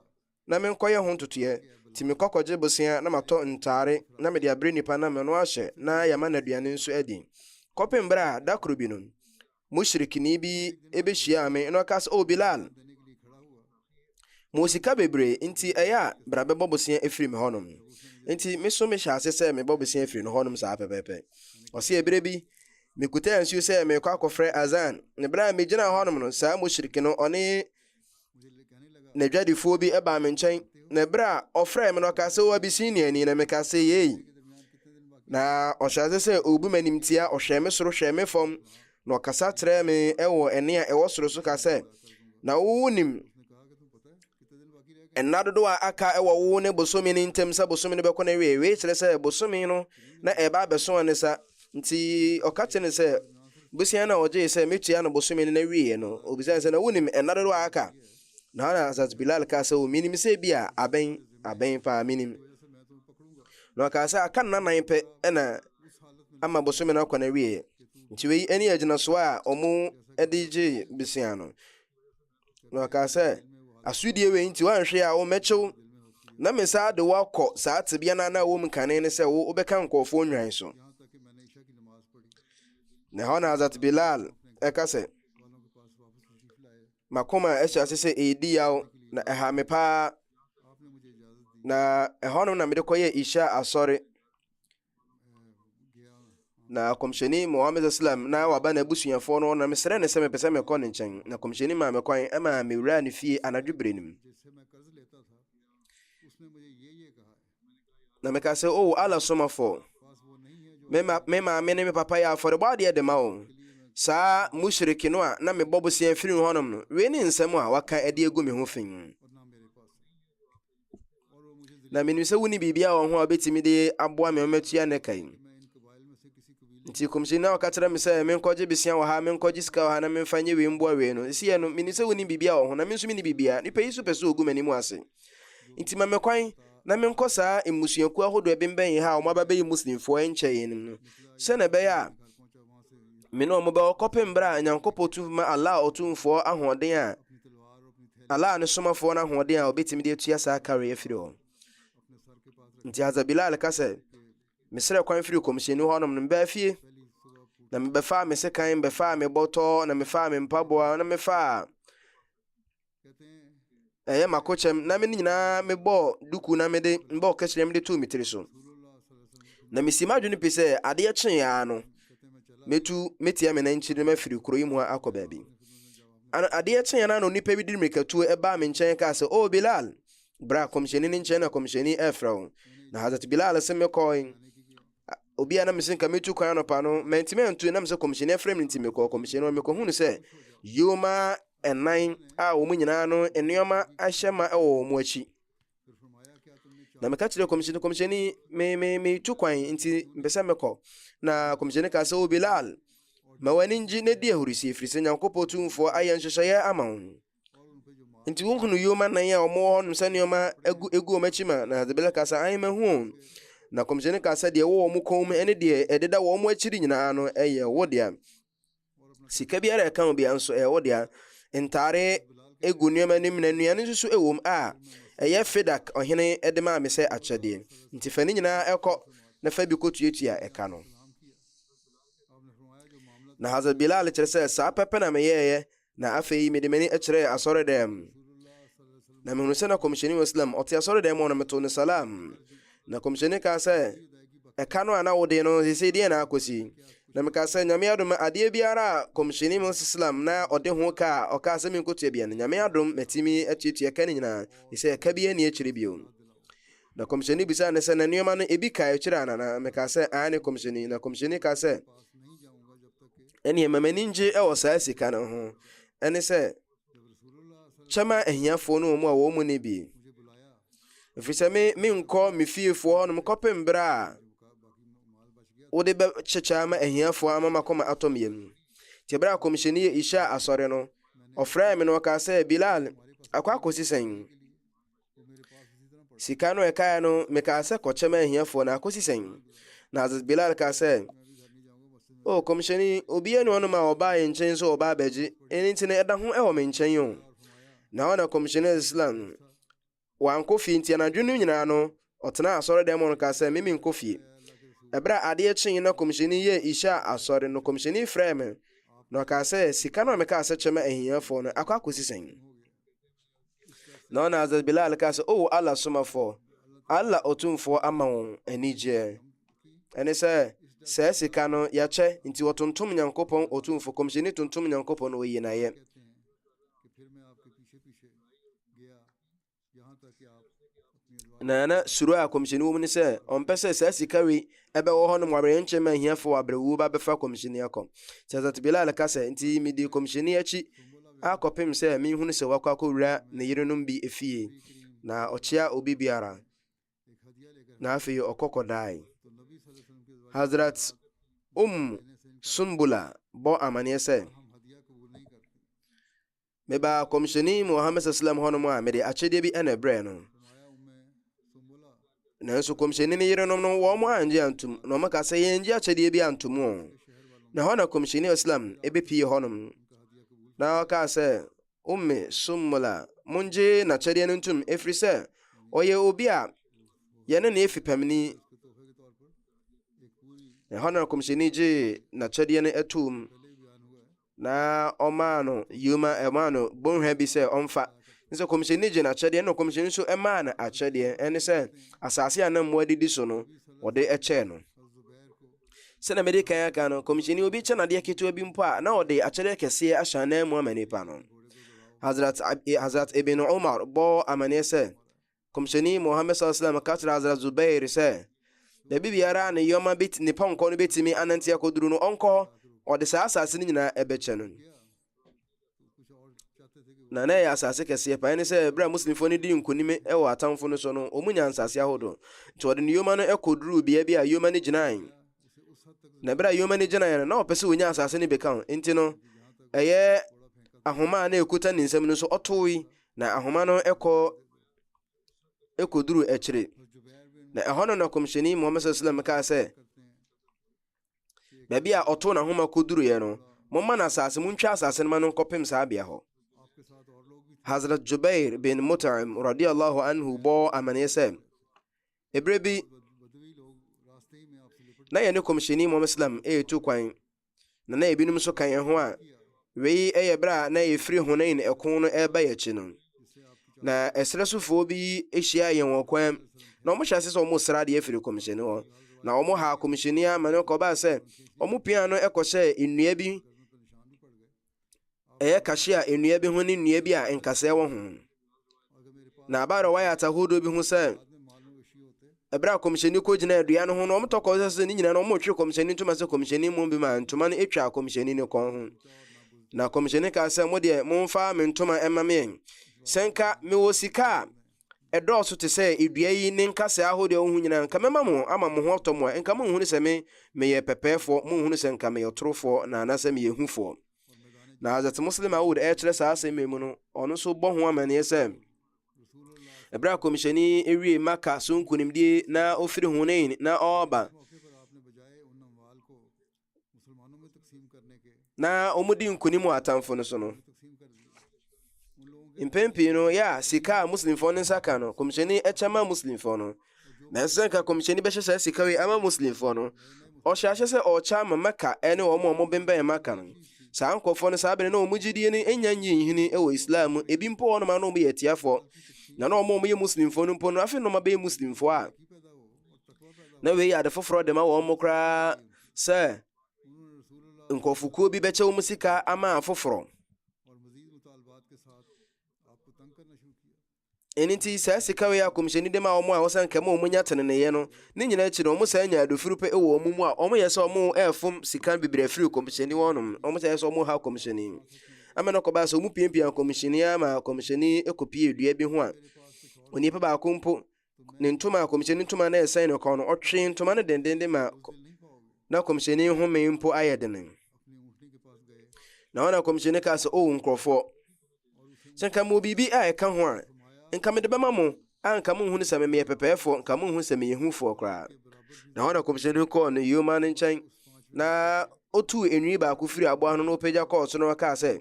na menkɔyɛ ho ntotoeɛ, nti mekɔ kɔgye bosea na matɔ ntaare na mede abrɛ nipa no ama no ahyɛ na yɛama no aduane nso adi. Kɔpem berɛ a, da koro bi no, mushrikni bi behyiaa me na ɔka sɛ oh bilal mo sika bebree nti ɛyɛ a bra bɛbɔ bosea afiri me hɔnom nti me so mehyɛ ase sɛ mebɔ bosea afiri no hɔnom saa pɛpɛpɛ ɔse ɛberɛ bi mekutaa nsuo sɛ merekɔ akɔfrɛ azan ne berɛ a megyina hɔnom no saa mushrik no ɔne Na adwadifoɔ bi baa me nkyɛn, na ɛberɛ a ɔfrɛɛ me no ɔkaa sɛ, O Abisiniani, na mekaa sɛ, Yei. Na ɔhyɛ ase sɛ ɔrebu m'animtia, ɔhwɛɛ me soro hwɛɛ me fam, na ɔkasa kyerɛɛ me wɔ ɛnne a ɛwɔ soro so ka sɛ, Na wowo nim nna dodoɔ a aka wɔ wowo ne bosome no ntam sɛ bosome no bɛkɔ n'awieeɛ. Wei kyerɛ sɛ bosome no na ɛreba abɛso ne sa. Nti ɔka kyerɛɛ no sɛ, Bosea no a ɔgyee sɛ metua no bosome no na wieeɛ no, ɔbisaa no sɛ, Na wonim nna dodoɔ a aka? Na Hazrat Bilal kaa sɛ, O, menim sɛ ebia abɛn, abɛn paa, menim. Na ɔkaa sɛ, Aka nna nan pɛ na ama bosome no akɔ na wieeɛ. Nti wei ne agyinasoɔ a wɔn de gyee bosea no. Na ɔkaa sɛ, Asodie wei nti woanhwɛ a wo mɛkye wo, na me saa de wo akɔ saa tebea no a na wɔ mu kane ne sɛ wo wobɛka nkurɔfoɔ nnwan so. Na ɛhɔ na Hazrat Bilal ɛka sɛ, makoma ɛhyɛ ase sɛ ɛredi yaw na ɛha me paa na ɛhɔ no na mede kɔyɛ isha asɔre na kɔmhyɛni muhammed islam na waba n'abusuafoɔ no na mesrɛ ne sɛ mepɛ sɛ mekɔ ne nkyɛn na kɔmhyɛni maa me kwan ma mewuraa ne fie anadwo berɛ no mu na meka sɛ o oh, ala somafoɔ me maame ne me papa yɛ afɔrebɔ adeɛ de ma o saa mushriki no a na mebɔ boseɛ firi hɔnom no wei ne nsɛm a waka adi agu me ho fi Na menim sɛ wonni biribiara wɔ ho a wobɛtumi de aboa me ɔmatua ne ka yi. Nti kɔmhyɛni na ɔka kyerɛ me sɛ menkɔgye besia wɔ ha, menkɔgye sika wɔ ha na memfa nyɛ wei mboa wei no. Ɛsi yɛ no, menim sɛ wonni biribiara wɔ ho na me nso menni biribiara. Nipa yi so pɛ sɛ ogu m'anim ase. Nti ma me kwan na menkɔ saa mmusuakuo ahodoɔ ɛbembɛn yɛ ha a wɔn aba bɛyɛ Muslimfoɔ nkyɛ yɛn no sɛ na ɛbɛyɛ a me ne wɔn bɛwɔ kɔpem berɛ a Nyankopɔn tu ma Allah Ɔtumfoɔ ahoɔden a Allah ne somafoɔ no ahoɔden a wɔbɛtumi de atua saa kare afiri hɔ. Nti Hazrat Bilal ka sɛ, mesrɛ kwan firi kɔmhyɛni hɔnom no mbaa fie, na mebɛfaa me sekan, mebɛfaa me bɔtɔ, na mefaa me mpaboa, na mefaa ɛyɛ makokyɛm, na me ne nyinaa mebɔɔ duku na mede mbɔɔ kɛkyerɛ mede too me tiri so. Na mesi m'adwene pi sɛ adeɛ kyeeɛ ara no, mɛtu mɛtia me nankyiri no mafiri kuro yi mu akɔ baabi. An adeɛ kyeeɛ no ara na onipa bi de mmirikatuo baa me nkyɛn kaa sɛ, O Bilal! Bra Kɔmhyɛni no nkyɛn na Kɔmhyɛni refrɛ wo. Na Hazrat Bilal se mekɔɔe. A obi a na mese nka metu kwan anɔpa no, mantumi antu ɛnam sɛ Kɔmhyɛni afrɛ me nti mekɔɔ Kɔmhyɛni hɔ. Mekɔhunu sɛ yoma nnan a wɔn nyinaa no nneɛma ahyɛ ma wɔ wɔn akyi. na meka kyerɛ kɔmhyɛni kɔmhyɛni me me metu kwan nti mpɛ sɛ mekɔ na kɔmhyɛni ka sɛ o bilal ma w'ani ngye na di ahurisi ɛfiri sɛ nyankopɔn tumfoɔ ayɛ nhyehyɛeɛ ama wo nti wohunu yoma nan a wɔwɔ hɔnom sɛ nneɛma egu egu wɔn akyi ma na hadze bilal ka sɛ ahe mahu o na kɔmhyɛni ka sɛ deɛ ɛwɔ wɔn kɔn mu ne deɛ ɛdeda wɔn akyiri nyinaa no ɛyɛ wo dea Sika biara a ɛka ho bia nso ɛyɛ wo dea. Ntare egu nneɛma anim na nnuane nso so ɛwom a ɛyɛ Fedak ɔhene de maa me sɛ akyɛdeɛ. Nti fa ne nyinaa kɔ na fa bi kɔtuatua ɛka no. Na Hazrat Bilal kyerɛ sɛ, Saa pɛpɛ na meyɛeɛ Na afei mede m'ani kyerɛɛ asɔredɛm, na mehunu sɛ na kɔmhyɛni wɔ Islam, ɔte asɔredɛm mu na meto ne salam. Na kɔmhyɛni kaa sɛ, ɛka no a na wode no sesei deɛ na akɔsi? Na mekaa sɛ, Nyame adom adeɛ biara a kɔmhyɛni mu Islam na ɔde ho ka a ɔkaa sɛ menkɔtua bia no, Nyame adom matumi atuatua ka no nyinaa, ɛsɛ ɛka bi ani akyiri bio. Na kɔmhyɛni bisaa ne sɛ, na nneɛma no ebi ka akyiri ana? Na mekaa sɛ, aane kɔmhyɛni. Na kɔmhyɛni kaa sɛ, ɛneɛ ma m'ani ngye wɔ saa sika no ho ɛne sɛ kyɛma ahiafoɔ no wɔn a wɔn mu ne bi ɛfiri sɛ me menkɔ me fiefoɔ hɔnom kɔpem berɛ a wode bɛkyekyɛ ama ahiafoɔ ama makɔma atɔ me yam nti berɛ a kɔmhyɛni yɛ ihyɛ asɔre no ɔfrɛɛ me no ɔkaa sɛ bilal akɔ akɔsi sɛn Sika no ɛkaeɛ no, mekaa sɛ kɔkyɛ ma ahiafoɔ na akɔsi sɛn? Na Hazrat Bilal kaa sɛ, O kɔmhyɛni, obi yɛ ne ɔnom a ɔbaa yɛ nkyɛn sɛ ɔbaa bɛgye, ɛno nti no ɛda ho ɛwɔ me nkyɛn o. Na ɔna kɔmhyɛni Islam no, wankɔ fie nti anadwo no nyinaa no, ɔtena asɔre dɛm no kaa sɛ, mimi nkɔ fie. Ɛberɛ a adeɛ kyee na kɔmhyɛni yɛ isha asɔre no, kɔmhyɛni frɛɛ me, na ɔkaa sɛ, sika no a mekaa sɛ kyɛ ma ahiafoɔ no, akɔ akɔsi sɛn? Na ɔna Hazrat Bilal ka sɛ, O Allah somafoɔ, Allah ɔtumfoɔ ama wɔn anigyeɛ. Ɛne sɛ, saa sika no yɛkyɛ, nti wɔtontom Nyankopɔn ɔtumfoɔ, kɔmhyɛni tontom Nyankopɔn wɔ yinayɛ. Na na suro a kɔmhyɛni wɔ mu ne sɛ ɔmpɛ sɛ saa sika wei ɛbɛwɔ hɔ nom awerɛnkye ma ahiafoɔ abrɛwuo ba bɛfa kɔmhyɛni akɔ. Nti Hazrat Bilal ka sɛ, nti medii kɔmhyɛni akyi akɔpem sɛ menhunu sɛ wakɔ akɔwura ne yerenom bi efie, na ɔkyea obi biara, na afei ɔkɔ kɔdae. Hazrat Um Sumbula bɔ amaneɛ sɛ, Mebaa kɔmhyɛni Muhammad sallam hɔnom a mede akyedeɛ bi na ɛbrɛɛ no. Nanso kɔmhyɛni ne yerenom no wɔn angye antom na wɔn ka sɛ yɛngye akyedeɛ bi antom o. Na hɔ na kɔmhyɛni Islam ebepie hɔnom na ɔkaa sɛ umme summola mongye n'akyɛdeɛ no ntom ɛfiri sɛ ɔyɛ obi a yɛne ne efi pɛmini. Ɛhɔ na kɔmhyɛni gye n'akyɛdeɛ no atom. na ɔmaa no yoma ɛmaa no bɔnhwa bi sɛ ɔmfa sɛ kɔmhyɛni gye n'akyɛdeɛ na kɔmhyɛni nso maa no akyɛdeɛ ɛne sɛ asase a na mmoa didi so no ɔde kyɛɛ no sɛnea mede kan aka no kɔmhyɛni obi kyɛ nadeɛ ketewa bi mpo a na ɔde akyɛdeɛ kɛseɛ ahyɛ anan mu ama nipa no hazrat, hazrat ibn umar bɔɔ amanneɛ sɛ Kɔmhyɛni Muhammad sallam ka kyerɛ Hazrat Zubair sɛ, baabi biara a ne yɔma bɛti ne pɔnkɔ no bɛtumi anante akɔduru no, ɔnkɔ hɔ, ɔde saa asase no nyinaa ɛbɛkyɛ no. Na na ɛyɛ asase kɛseɛ paa ne sɛ berɛ a Muslimfoɔ no dii nkonim wɔ atamfo no so no, wɔn nyaa nsase ahodoɔ. Nti wɔde ne yɔma no kɔduruu bea bi a yɔma no gyinae. Na berɛ a yɔma no gyinaeɛ no, na ɔpɛ sɛ ɔnya asase no bɛka ho. Nti no, ɛyɛ ahoma a na ɛkuta ne nsam no so ɔtoe Na ahoma no kɔ kɔduru akyire. Na ɛhɔ no na kɔmhyɛni Muhammad sallam kaa sɛ, baabi a ɔtoo n'ahoma kɔduruiɛ no, momma no asase, montwa asase no ma no nkɔpem saa bea hɔ. Hazrat Jubair bin Mut'im radiallahu anhu bɔɔ amaneɛ sɛ, ɛberɛ bi na yɛne kɔmhyɛni Muhammad sallam ɛretu kwan na na ebinom nso ka yɛn ho a wei yɛ berɛ a na yɛfiri Hunain ɛko no ɛreba yɛn akyi no. Na ɛserɛ sofoɔ bi hyia yɛn wɔ kwan na wɔhyɛ ase sɛ wɔsra adeɛ firi kɔmhyɛni hɔ na wɔn ha kɔmhyɛni ama no kɔbaa sɛ wɔn pia no kɔhyɛɛ nnua bi ɛyɛ kahyia nnua bi ho ne nnua bi a nkasɛɛ wɔ ho na abaara wɔayɛ atahodoɔ bi ho sɛ ɛberɛ a kɔmhyɛni kɔgyina adua no ho no ɔmotɔ kɔsɛ sɛ ne nyinaa no ɔmotwe kɔmhyɛni ntoma sɛ kɔmhyɛni mmom bi ma ntoma no ɛtwa kɔmhyɛni ne kɔn ho na kɔmhyɛni kaa sɛ mo deɛ momfa me ntoma ɛma meɛ sɛ nka mewɔ sika a ɛdɔɔso te sɛ dua yi ne nkasɛɛ ahodoɔ a wohu nyinaa, nka mɛma mo ama mo ho atɔ mo a nka monhunu sɛ me meyɛ pɛpɛɛfoɔ, monhunu sɛ nka meyɛ ɔtorofoɔ na anaasɛ meyɛ hufoɔ. Na Hazrat Muslim Aud ɛrekyerɛ saa asɛm yi mu no, ɔno nso bɔ ho amanneɛ sɛ, ɛberɛ a kɔmhyɛni ewie Maka so nkunimdie na ɔfiri Hunain na ɔreba, na wɔdi nkonim wɔ atamfo no so no, mpɛn pii no yɛ a sika a muslimfoɔ no nsa ka no kɔmhyɛni kyɛ ma muslimfoɔ no nanso sɛ nka kɔmhyɛni bɛhyɛ saa sika wei ama muslimfoɔ no ɔhyɛ ahyɛ sɛ ɔkyɛ ama mɛka ne wɔn a wɔn bɛnbɛn maka no saa nkurɔfoɔ no saa bere na wɔn gyidie no nya nyi nhini wɔ islam mu ebi mpo wɔn ma no wɔn yɛ atiafoɔ na na wɔn a wɔyɛ muslimfoɔ no mpo no afei na wɔn abɛyɛ muslimfoɔ a na wei yɛ ade foforɔ de ma wɔn mo koraa sɛ nkurɔfokuo bi bɛkyɛ wɔn sika ama afoforɔ ɛno nti saa sika wei a kɔmhyɛni de ma wɔn a wɔsɛ nkɛma wɔn nya teneneeɛ no ne nyinaa akyi no wɔn saa nya adofiri pɛ wɔ wɔn mu a wɔn yɛ sɛ wɔn ɛfom sika bebree afiri kɔmhyɛni wɔn nom wɔn sɛ yɛ sɛ wɔn ha kɔmhyɛni ama no kɔba sɛ wɔn piapia kɔmhyɛni ama kɔmhyɛni kɔpie dua bi ho a onipa baako mpo ne ntoma a kɔmhyɛni ntoma na ɛsɛn ne kɔn no, ɔtwee ntoma no dendenden ma na kɔmhyɛni home mpo ayɛ dene. Na ɔna kɔmhyɛni kaa sɛ, O nkurɔfoɔ, sɛ nka mewɔ biribi a ɛka ho a, nka mede bɛma mo, a nka monhunu sɛ memeyɛ pɛpɛɛfoɔ, nka monhunu sɛ meyɛ hufoɔ koraa. Na ɔna kɔmhyɛni kɔɔ ne yoma no nkyɛn, na otuu enwi baako firi aboa no na ɔpagya kɔɔ so na ɔkaa sɛ,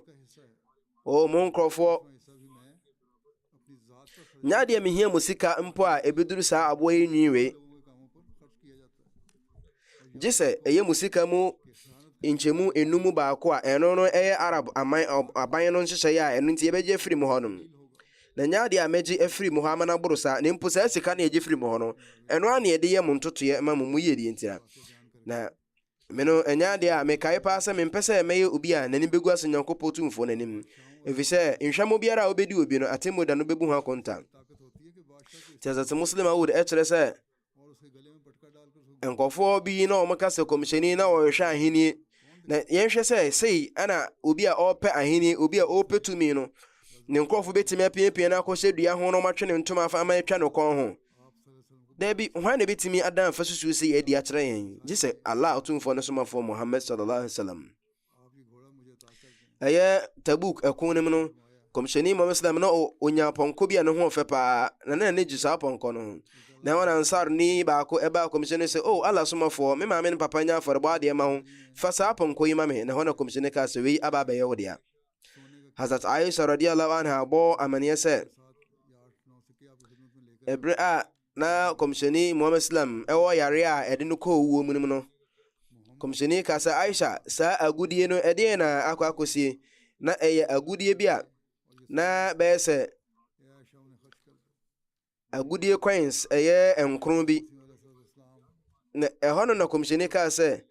O mo nkurɔfoɔ, Nya deɛ mehia mu sika mpo a ɛbɛduru saa aboa yi nwi wei. Gye sɛ ɛyɛ mu sika mu nkyɛmu enum mu baako a ɛno no ɛyɛ Arab aman aban no nhyehyɛeɛ a ɛno nti yɛbɛgye afiri mu hɔ nom. Na nya deɛ a mɛgye afiri mu hɔ ama no aboro saa na mpo saa sika no yɛgye firi mu hɔ no ɛno a na yɛde yɛ mo ntotoeɛ ma mo mu yie deɛ ntia. Na Me no, ɛnyɛ adeɛ a mekae paa sɛ mempɛ sɛ mɛyɛ obi a n'ani bɛgu ase Nyankopɔn Tumfoɔ no anim, ɛfiri sɛ nhwɛmo biara a wobɛdi obi no, atemmuo da no bɛbu ho akonta. Nti Hazrat Muslim Awud ɛkyerɛ sɛ nkɔfoɔ bi na wɔn ka sɛ kɔmhyɛni na wɔhwehwɛ ahennie na yɛnhwɛ sɛ sei ɛna obi a ɔrepɛ ahennie obi a ɔrepɛ tumi no ne nkurɔfo bɛtumi apiapia no akɔhyɛ dua ho na wɔatwe ne ntoma afa ama atwa no kɔn ho Dabi, hwan na ebetumi adan fasusu sɛ yɛadi akyerɛ yɛn, gye sɛ Allah Otumfoɔ ne Somafoɔ Muhammad sallallahu alaihi wasallam. Ɛyɛ Tabuk ɛko no mu no, kɔmhyɛni Muhammad sallam na onya pɔnkɔ bi a ne ho ɔfɛ paa, na na n'ani gye saa pɔnkɔ no ho. Na wɔn ansar ni baako ɛbaa kɔmhyɛni sɛ, "O Allah Somafoɔ, me maame ne papa nya afɔrebɔ adeɛ ma ho, fa saa pɔnkɔ yi ma me." Na hɔ na kɔmhyɛni kaa sɛ, "Wei aba abɛyɛ wo dea." Hazrat Aisha radiyallahu anha bɔ amanneɛ sɛ ɛberɛ a na kɔmhyɛni Muhammad Islam ɛwɔ yare a ɛde no kɔɔ wuo mu no kɔmhyɛni ka sɛ Aisha saa agudie no ɛdeɛ na akɔ akɔsie na ɛyɛ agudie bi a na bɛyɛ sɛ agodie coins ɛyɛ nkron bi na ɛhɔ no na kɔmhyɛni kaa sɛ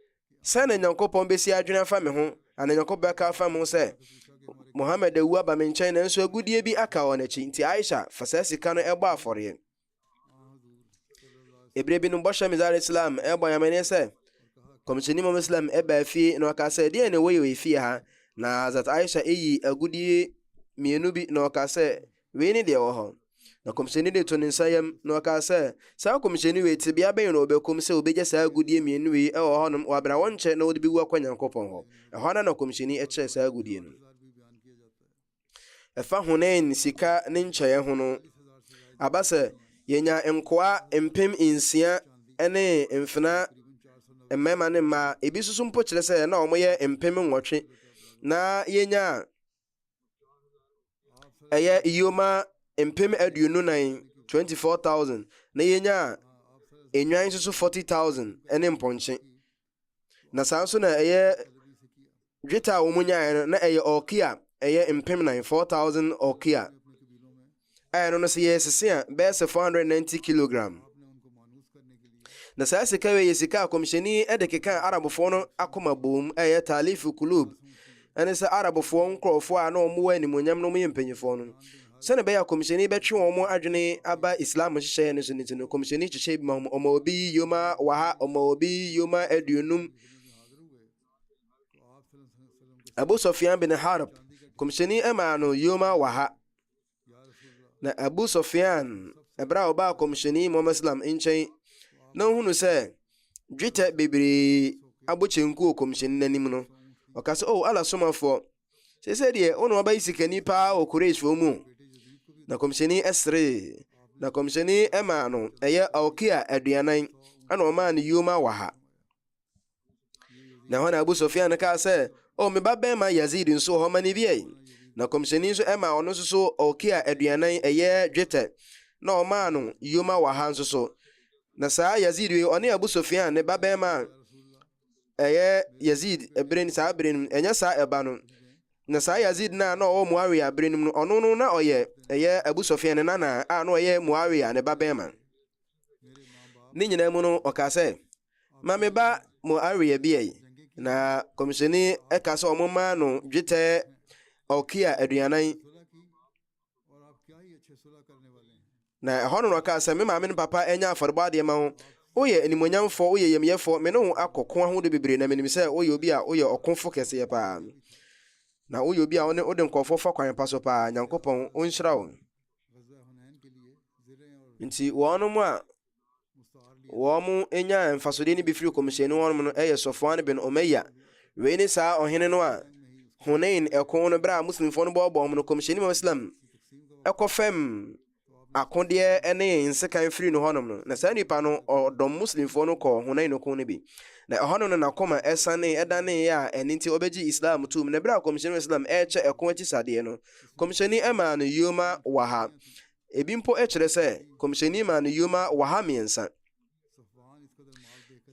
sɛ na nyankopɔn bɛsi adwene afa me ho ana nyankopɔn bɛka afa me ho sɛ mohammed awu aba me nkyɛn nanso agodie bi aka wɔ n'akyi nti aisha fa saa sika no ɛbɔ afɔreɛ ɛberɛ bi no bɔhyɛ mizar islam ɛbɔ nyamene sɛ kɔmhyɛni mom islam ɛbaa fie na ɔka sɛ deɛ ne woyɛ wɔ fie ha na azat aisha ɛyi agodie mmienu bi na ɔka sɛ Wei ne deɛ ɛwɔ hɔ. Na kɔmhyɛni de to ne nsa yam, na ɔkaa sɛ, Saa kɔmhyɛni wei, tebea bɛn na ɔbɛkɔm sɛ ɔbɛgya saa agudeɛ mmienu wei wɔ hɔnom wɔ aberɛ a wɔnkyɛ na ɔde bɛwu akɔ Nyankopɔn hɔ? Ɛhɔ ara na kɔmhyɛni kyɛɛ saa agudeɛ no. Ɛfa Hunain sika ne nkyɛeɛ ho no, aba sɛ, yɛnyaa nkoa mpem nsia ne mfena mmarima ne mmaa, ebi nso so mpo kyerɛ sɛ na wɔyɛ mpem nwɔtwe, na yɛnyaa. ɛyɛ yoma mpem aduonu nan twenty four thousand na yɛnya nnwan nso so forty thousand ne mpɔnkye na saa nso na ɛyɛ dwetɛ a wɔn nyaeɛ no na ɛyɛ ɔkia ɛyɛ mpem nan four thousand ɔkia. a ɛno no sɛ yɛyɛ sese a bɛyɛ sɛ 490 kilogram. Na saa sika wei yɛ sika a kɔmhyɛni de kekaa Arabfoɔ no akoma boom a ɛyɛ Talif Kulub ɛne sɛ Arabfoɔ nkurɔfoɔ a na wɔn wɔ animuonyam na wɔn yɛ mpanimfoɔ no sɛne ɛbɛyɛ a kɔmhyɛni bɛtwe wɔn adwene aba Islam nhyehyɛeɛ no so no ti no kɔmhyɛni kyekyɛ bi ma wɔn ɔma obi yoma waha ɔma obi yoma aduonum Abu Sofyan bin Harb kɔmhyɛni ɛmaa no yoma waha na abu sɔfean ɛberɛ a ɔbaa kɔmhyɛni muhammad salam nkyɛn na ɔhunu sɛ dwetɛ bebree abɔ kyenku wɔ kɔmhyɛni no anim no ɔka sɛ o oh, ala somafoɔ sɛ sɛ deɛ wo na wabɛyi sikani paa wɔ kureshfoɔ mu na kɔmhyɛni ɛseree na kɔmhyɛni ɛmaa no ɛyɛ ɔkia aduanan ɛna ɔmaa no yoma wɔ ha Na hɔ na Abu Sufyan no kaa sɛ, O me ba bɛrima Yazid nso hɔ ma ne biae. Na kɔmhyɛni nso ɛma ɔno nso so ɔkia aduanan ɛyɛ dwetɛ, na ɔmaa no yoma waha nso so. Na saa Yazid wei ɔne Abu Sufyan ne ba bɛrima a ɛyɛ Yazid bere saa bere no ɛnyɛ saa ɛba no. Na saa Yazid no a na ɔwɔ Muawiya bere no mu no ɔno no na ɔyɛ ɛyɛ Abu Sufyan ne nana a na ɔyɛ Muawiya ne ba bɛrima. Ne nyinaa mu no ɔkaa sɛ. ma me ba mo aweɛ bi ɛyi na kɔmhyɛni ɛka sɛ ɔmo maa no dwetɛ ɔkia aduanan na ɛhɔ no na ɔkaa sɛ me maame no papa ɛnyɛ afɔrebɔ adeɛ ma wo woyɛ animonyamfoɔ woyɛ yɛmyɛfoɔ me ne wo akɔko ahodoɔ bebree na menim sɛ woyɛ obi a woyɛ ɔkofo kɛseɛ paa na woyɛ obi a wone wode nkɔfoɔ fa kwan pa so paa nyankopɔn ɔnhyira wo nti wɔnom a wɔnyaa mfasodeɛ no bi firi kɔmhyɛni hɔ nom no yɛ Sɔfoan bin Omaya. Wei ne saa ɔhene no a Hunain ɛko no berɛ a Muslimfoɔ no bɔɔbɔɔ mu no kɔmhyɛni mu Islam ɛkɔ fam akodeɛ ne nsekan firi no hɔnom no. Na saa nipa no ɔdɔm Muslimfoɔ no kɔɔ Hunain no ko no bi. Na ɛhɔnom no n'akoma ɛsane ɛdaneeɛ a ɛno nti ɔbɛgye Islam tum. Na berɛ a kɔmhyɛni mu Islam ɛrekyɛ ɛko akyi sadeɛ no kɔmhyɛni ɛmaa no yoma waha. Ebi mpo kyerɛ sɛ kɔmhyɛni maa no yoma waha mmiɛnsa.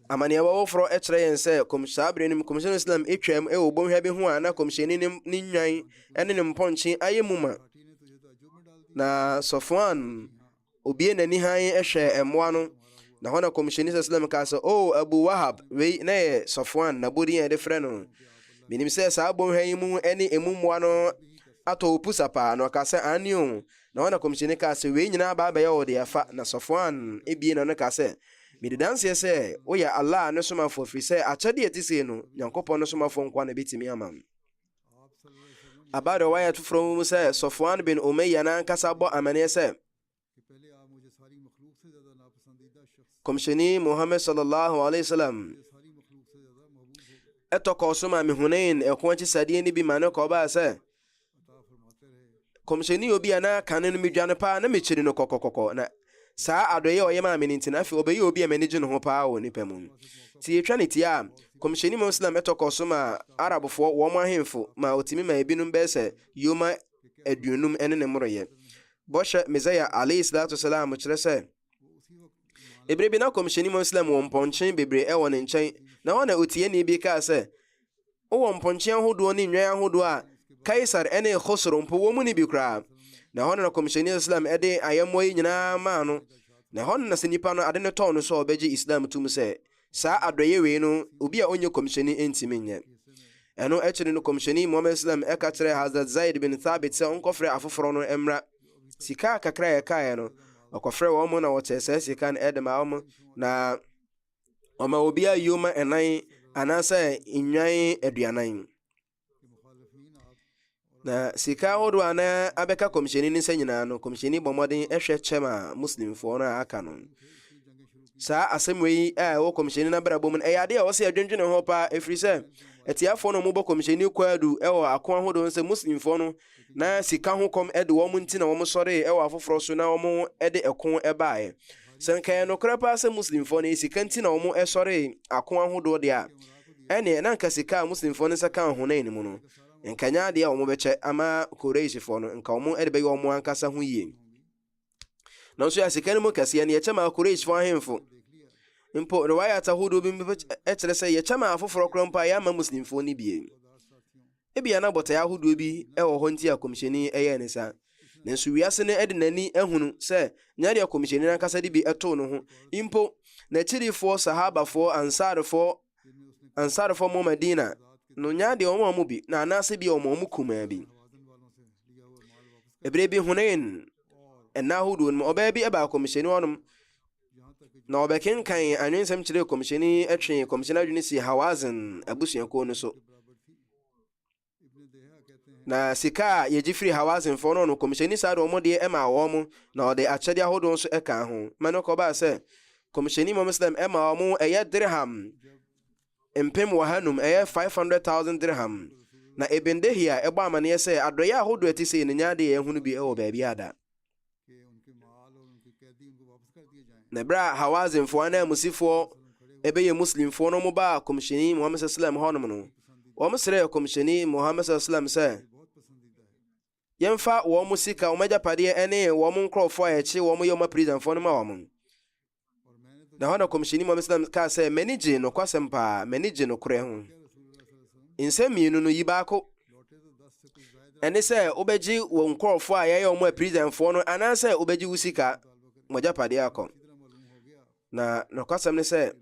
Amaneɛbɔ foforɔ kyerɛ yɛn sɛ saa berɛ no mu kɔmhyɛni Islam atwam wɔ bɔnhwa bi ho a na kɔmhyɛni ne nnwan ne ne mpɔnkye ayɛ mu ma. Na Sɔfoan obie n'ani hann hwɛɛ mmoa no na hɔ na kɔmhyɛni sɛ Islam kaa sɛ o Abu Wahab wei na yɛ Sɔfoan na bɔdin a yɛde frɛ no. Menim sɛ saa bɔnhwa yi mu ne emu mmoa no atɔ opusa paa na ɔka sɛ aane o Na hɔ na Kɔmhyɛni kaa sɛ, Wei nyinaa aba abɛyɛ wo dea fa. Na Safwan bue n'ano kaa sɛ, Medi danseɛ sɛ woyɛ Allah ne Somafoɔ ɛfiri sɛ akyɛdeɛ a ɛte sei no, Nyankopɔn ne Somafoɔ nkoa na ɛbɛtumi ama. Aba riwayat foforɔ mu mu sɛ, Safwan bin Umayya no ankasa bɔ amaneɛ sɛ, Kɔmhyɛni Muhammad sallallahu alaihi wasallam ɛtɔ kɔɔ so maa me Hunain ɛko akyisadeɛ no bi ma no kɔbaa sɛ, kɔmhyɛni obi a na kane no medwa no paa na mekyiri no kɔkɔkɔkɔ na saa adɔeɛ a ɔyɛ maa me no nti na afei ɔbɛyɛ obi a m'ani gye ne ho paa wɔ nipa mu nti yɛtwa ne tia a kɔmhyɛni mu islam ɛtɔ kɔ so ma arabfoɔ wɔn mo ahemfo ma ɔtumi ma ebinom bɛyɛ sɛ yoma aduonum ɛne ne mmoroyɛ bɔhyɛ mesaia alayhi salatu salam kyerɛ sɛ ebere bi na kɔmhyɛni mu islam wɔ mpɔnkye bebree ɛwɔ ne nkyɛn na hɔ na otieni bi kaa sɛ Wowɔ mpɔnkye ahodoɔ ne nnwan ahodoɔ a Kaesare ne Khosro mpo wɔn mu no bi koraa. Na ɛhɔ na na Kɔmhyɛni Islam de ayɛmmoa yi nyinaa maa no. Na ɛhɔ no na sɛ nipa no ade no tɔɔ no so a ɔbɛgye Islam tom sɛ saa adɔeɛ wei no obi a ɔnyɛ Kɔmhyɛni ntumi nyɛ. Ɛno akyiri no Kɔmhyɛni Muhammad Islam ka kyerɛɛ Hazrat Zaid bin Thabit sɛ ɔnkɔfrɛ afoforɔ no mmra. Sika kakra a ɛkaeɛ no, ɔkɔfrɛɛ wɔn na wɔkyɛɛ saa sika no de maa wɔn, na. Wɔma obiara yoma ɛnan anaasɛ nnwan aduanan. Na sika ahodoɔ a na abɛka kɔmhyɛni ne nsa nyinaa no, kɔmhyɛni bɔ mmɔden hwɛ kyɛ ma Muslimfoɔ no a aka no. Saa asɛm wei a ɛwɔ kɔmhyɛni no abrabɔ mu no, ɛyɛ adeɛ a wɔsɛ yɛdwendwene ho paa, ɛfiri sɛ atiafoɔ no mobɔ kɔmhyɛni kwaadu wɔ ako ahodoɔ sɛ Muslimfoɔ no na sika ho kɔm de wɔn nti na wɔsɔree wɔ afoforɔ so na wɔde ɛko baeɛ. Sɛ nka ɛyɛ nokorɛ paa sɛ Muslimfoɔ no sika nti na wɔsɔree ako ahodoɔ deɛ a, ɛneɛ na nka sika a Muslimfoɔ no nsa kaa Hunain mu no, nka nyɛ adeɛ a wɔbɛkyɛ ama Quraishfoɔ no, nka wɔde bɛyɛ wɔn ankasa ho yie. Nanso yɛ sika no mu kɛseɛ no yɛkyɛ maa Qurayshfoɔ ahemfo. Mpo riwayat ahodoɔ bi mpo kyerɛ sɛ yɛkyɛ maa afoforɔ korɔ mpo a yɛamma Muslimfoɔ no bie. Ebia na bɔtaeɛ ahodoɔ bi wɔ hɔ nti a Kɔmhyɛni yɛɛ ne saa. Nanso wiase no de n'ani ahunu sɛ nyɛ deɛ Kɔmhyɛni no ankasa de bi too no ho. Mpo n'akyirifoɔ, Sahabafoɔ, Ansarfoɔ, Ansarfo mu Medina no nya de wɔn a wɔn bi na anaasɛ bi wɔn a wɔn kumaa bi. Ebere bi Hunain ɛna ahodoɔ no mu ɔbaa bi ɛbaa kɔmhyɛni wɔnom na ɔbɛkenkan anwensɛm kyerɛ kɔmhyɛni ɛtwe kɔmhyɛni adwene si Hawazin abusuakuo no so. Na sika a yegye firi Hawazinfoɔ no, ɔno Kɔmhyɛni saa de wɔn deɛ maa wɔn, na ɔde akyɛdeɛ ahodoɔ nso kaa ho. Ma no kɔbaa sɛ, Kɔmhyɛni Muhammad sallam ɛma wɔn ɛyɛ dirham mpem wɔha num, ɛyɛ 500,000 dirham. Na Ibn Dihya ɛbɔ amaneɛ sɛ, adɔeɛ ahodoɔ ɛte sei no nyɛ adeɛ a yɛahunu bi wɔ baabiara da. Na berɛ a Hawazinfoɔ ananmusifoɔ ɛbɛyɛ Muslimfoɔ no wɔn baa kɔmhyɛni Muhammad sallam hɔnom no wɔn srɛɛ kɔmhyɛni Muhammad sallam sɛ yɛmfa wɔn sika wɔn agyapadeɛ ne wɔn nkorɔfoɔ a yɛkye wɔn yɛ wɔn apirisanfoɔ no ma wɔn Na hɔ na kɔmhyɛni Muhammad sallam kaa sɛ m'ani gye nokwasɛm paa m'ani gye nokorɛ ho nsɛm mmienu no yi baako ɛne sɛ wobɛgye wɔ nkurɔfoɔ a yɛyɛ wɔn apirizanfoɔ no anaasɛ wobɛgye wo sika mogyapadeɛ akɔ na nokwasɛm ne sɛ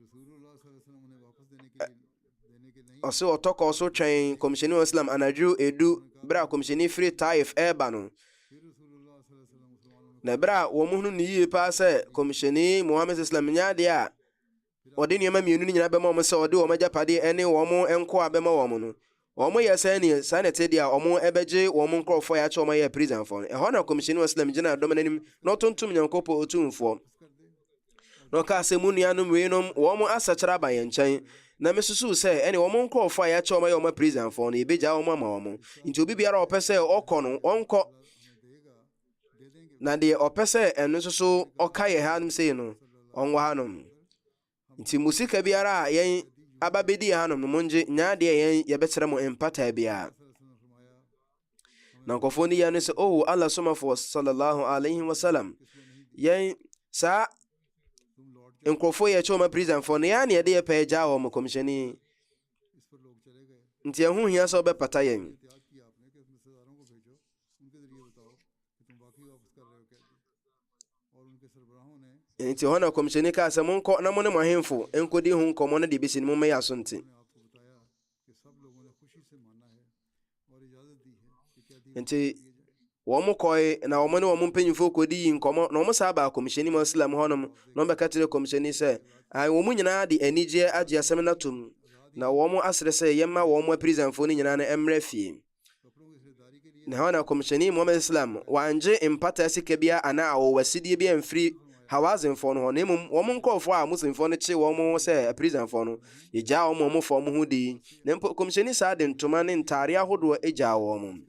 Ɔse ɔtɔ kɔɔ so twɛn kɔmhyɛni wɔn Islam anadwo edu berɛ a kɔmhyɛni firi Taif ɛreba no. Na berɛ a wɔn hunu no yie paa sɛ kɔmhyɛni Muhammad Islam nyɛ adeɛ a ɔde nneɛma mmienu no nyinaa bɛma wɔn sɛ ɔde wɔn agyapadeɛ ne wɔn nkoa bɛma wɔn no, Wɔyɛ saa ni, saa na ɛte deɛ a wɔbɛgye wɔn nkorɔfoɔ a yɛakyɛ wɔn ayɛ aprisanfoɔ no. Ɛhɔ na Kɔmhyɛni wa Salam gyinaa dɔm no anim na ɔtontom Nyankopɔn Otumfoɔ na ɔkaa sɛ, Mo nuanom weinom, wɔn asakyera aba yɛn nkyɛn, na mesusuw sɛ ɛne wɔn nkorɔfoɔ a yɛakyɛ wɔn ayɛ wɔn aprisanfoɔ no, yɛbɛgyaa wɔn ama wɔn. Nti obi biara a ɔpɛ sɛ ɔkɔ no, ɔnkɔ. Na deɛ ɔpɛ sɛ ɛno nso so ɔka yɛ hanom sei no, ɔnwɔ hanom. Nti mo sika biara a yɛn aba bedi yɛn hanom no mongye nyɛ adeɛ yɛn yɛbɛkyerɛ mo mpataa biara na nkurɔfoɔ no yɛ no sɛ oho oh, allah somafoɔ sallallahu alaihi wasallam yɛn saa nkurɔfoɔ yɛ kyɛw ma prisonfoɔ no yɛa ne yɛde yɛ pɛɛ gyaa wɔ mo kɔmhyɛni nti ɛho hia sɛ wobɛpata yɛn Enti hɔ na kɔmhyɛni kaa sɛ, Monkɔ na mo ne mo ahemfo nkɔdi ho nkɔmmɔ na deɛ ɛbɛsi no mommɛyɛ aso nte. Enti wɔn kɔe na wɔn ne wɔn mpanyimfoɔ kɔdi yi nkɔmmɔ na wɔn saa baa kɔmhyɛni mu asilam hɔnom na wɔbɛka kyerɛ kɔmhyɛni sɛ, ae wɔn nyinaa de anigyeɛ agye asɛm no atom na wɔn asrɛ sɛ yɛmma wɔn aprisanfoɔ no nyinaa no mmra fie. Na hɔ na kɔmhyɛni Muhammad Islam wangye mpata sika biara anaa awowɔsidie biara mfiri Hawazinfoɔ no hɔ, na mmom wɔn nkurɔfoɔ a Muslimfoɔ no kye wɔn sɛ apirizanfoɔ no, yɛgyaa wɔn ma wɔn faa wɔn ho di, na mpo kɔmhyɛni saa de ntoma ne ntaadeɛ ahodoɔ gyaa wɔn.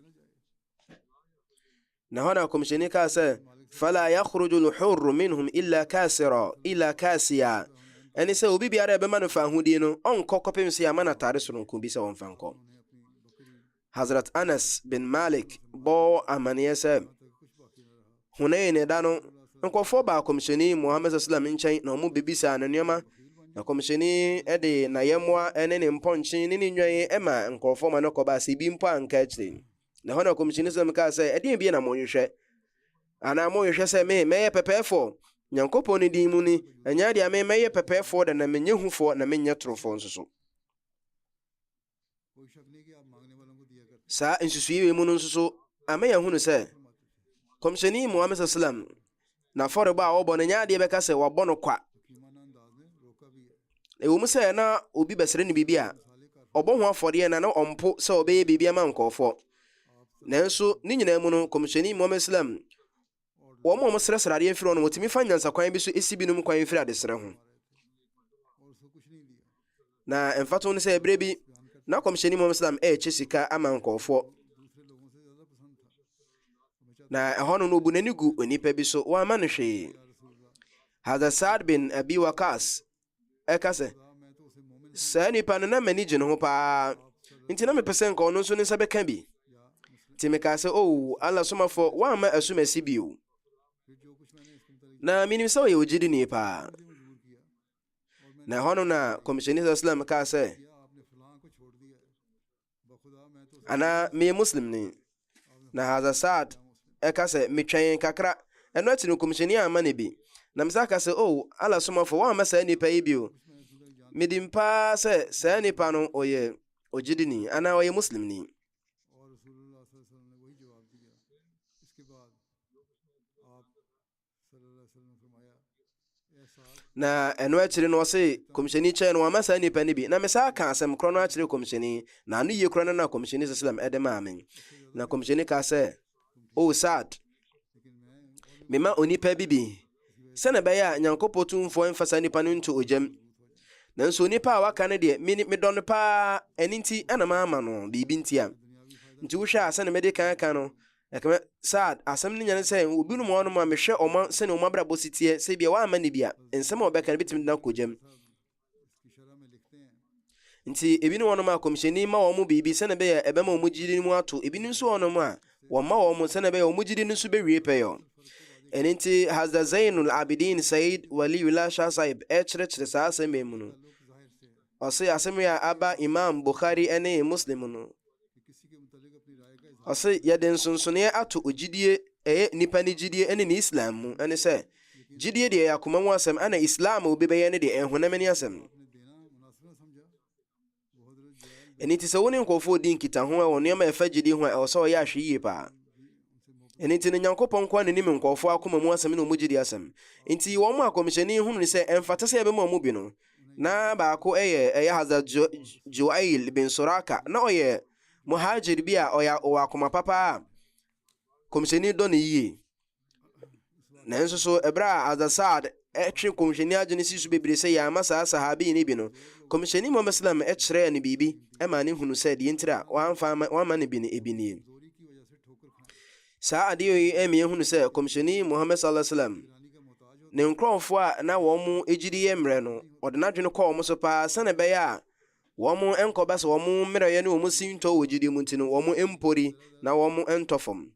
Na hɔ na Kɔmhyɛni kaa sɛ, Fala yakhruju lhurru minhum illa kasira, illa kasiya. Ɛne sɛ obi biara a ɛbɛma no fahodie no, ɔnkɔ kɔpem sɛ yɛama no atade soronko bi sɛ ɔmfa nkɔ. Hazrat Anas bin Malik bɔɔ amaneɛ sɛ, Hunain ɛda no, nkɔfoɔ baa Kɔmhyɛni Muhammad sallam nkyɛn na wɔn bɛbisaa no nneɛma, na Kɔmhyɛni de n'ayɛmmoa ne ne mpɔnkye ne ne nnwan ma nkɔfoɔ ma no kɔbaa sɛ ebi mpo anka akyire. Na ɛhɔ na Kɔmhyɛni Sam kaa sɛ, Ɛdeɛn bie na monhwehwɛ? Anaa monhwehwɛ sɛ me mɛyɛ pɛpɛɛfoɔ? Nyankopɔn ne din mu ni, ɛnyɛ adeɛ a me mɛyɛ pɛpɛɛfoɔ da na menyɛ hufoɔ na menyɛ torofoɔ nso so. Saa nsusui wei mu no nso so ama yɛahunu sɛ Kɔmhyɛni Muhammad sallam n'afɔrebɔ a ɔbɔ no nyɛ adeɛ bɛka sɛ wabɔ no kwa. Ɛwɔ mu sɛ na obi bɛsrɛ no biribi a, ɔbɔ ho afɔdeɛ na na ɔmpo sɛ ɔbɛyɛ biribi ama nkurɔfoɔ. Nanso ne nyinaa mu no, Kɔmhyɛni Muhammad Islam, wɔn a wɔsrɛsrɛ adeɛ firi hɔ no, wɔtumi fa nyansakwan bi so si binom kwan firi adesrɛ ho. Na mfato no sɛ bere bi na kɔmhyɛni Muhammad sallam ɛrekye sika ama nkɔɔfoɔ. Na ɛhɔ no no obu n'ani gu onipa bi so wɔama no hwee. Hazrat Saad bin Abi Wakas ɛka sɛ saa nipa no na m'ani gye ne ho paa nti na mepɛ sɛ nka ɔno nso ne nsa bɛka bi. Nti mekaa sɛ o oh, Allah somafoɔ woamma asumasi bio. Na menim sɛ ɔyɛ ogyidini paa. na ɛhɔ no na kɔmhyɛni sɛ islam kaa sɛ anaa meyɛ muslim ni na haza saad ɛka sɛ metwɛn kakra ɛno akyi no kɔmhyɛni amma no bi na mesa ka sɛ o oh, ala somafo woammɛ saa nnipa yi bio medim paa sɛ saa nnipa no ɔyɛ ogyidini anaa ɔyɛ muslimni na ɛno akyiri no ɔse kɔmhyɛni kyɛn no wama saa nnipa no bi na mesa aka asɛm korɔ no akyerɛ kɔmhyɛni na ano yie korɔ no na kɔmhyɛni sɛ salam ɛde maa me na kɔmhyɛni ka sɛ o oh, sad mema onipa bi bi sɛne ɛbɛyɛ a nyankopɔn tumfoɔ mfa saa nnipa no nto ogyam nanso onipa a waka no deɛ medɔ no paa ɛno nti ɛna maama no biribi ntia nti wohwɛ a sɛne mede kan ka no Ɛkame saa a, asɛm no nya ne sɛ, obinom wɔ hɔnom a mehwɛ wɔn a sɛnea wɔn abrabɔ si teɛ, sɛ ebia wɔamma no bi a, nsɛm a wɔbɛka no betumi de no akɔ gyam. Nti, ebinom wɔ hɔnom a kɔmhyɛni ma wɔn biribi sɛnea ɛbɛyɛ a ɛbɛma wɔn gyidi no mu ato, ebinom nso wɔ hɔnom a wɔmma wɔn sɛnea ɛbɛyɛ wɔn gyidi no nso bewie pɛyɛ. Ɛno nti, Hazrat Zainul Abidin Sayyid Waliullah Shah Sahib kyerɛkyerɛ saa asɛm yi mu no. Ɔse asɛm yi a aba Imam Bukhari ne Muslim no, ɔse yɛde nsonsoneɛ ato ogyidie ɛyɛ nipa ne gyidie ne ne Islam mu ɛne sɛ gyidie deɛ ɛyɛ akoma mu asɛm ɛna Islam a obi bɛyɛ ne deɛ ɛhonam ne asɛm ɛne ti sɛ wo ne nkurɔfoɔ di nkitaho wɔ nneɛma ɛfa gyidie ho a ɛwɔ sɛ ɔyɛ ahwe yie paa ɛne ti no Nyankopɔn nkoa ne nim nkurɔfoɔ akoma mu asɛm ne ɔmu gyidie asɛm nti wɔn akɔmhyɛni hunu sɛ ɛmfata sɛ yɛbɛma ɔmu bi no Na baako yɛ ɛyɛ Hazrat Juwail bin Suraka. Na ɔyɛ muhajir bi a ɔyɛ ɔwɔ akoma papa a kɔmhyɛni dɔ no yie. Nanso so ɛberɛ a Hazrat Saad ɛtwe kɔmhyɛni adwene si so bebree sɛ yɛama saa sahabi no bi no, kɔmhyɛni Muhammad Islam ɛkyerɛɛ no biribi ɛma ne hunu sɛ deɛ ntira wɔamfa wɔamma no bi no ebi nie. Saa adeɛ yi ɛmi ehunu sɛ kɔmhyɛni Muhammad sallallahu alaihi wasallam ne nkorɔfoɔ a na wɔn gyidi yɛ mmerɛ no ɔde n'adwene kɔ wɔn so paa sɛnɛ bɛyɛ a wɔn nkɔba sɛ wɔn mmerɛyɛ ne wɔn sintɔ wɔ gyidie mu nti no wɔn mpori na wɔn ntɔ fam.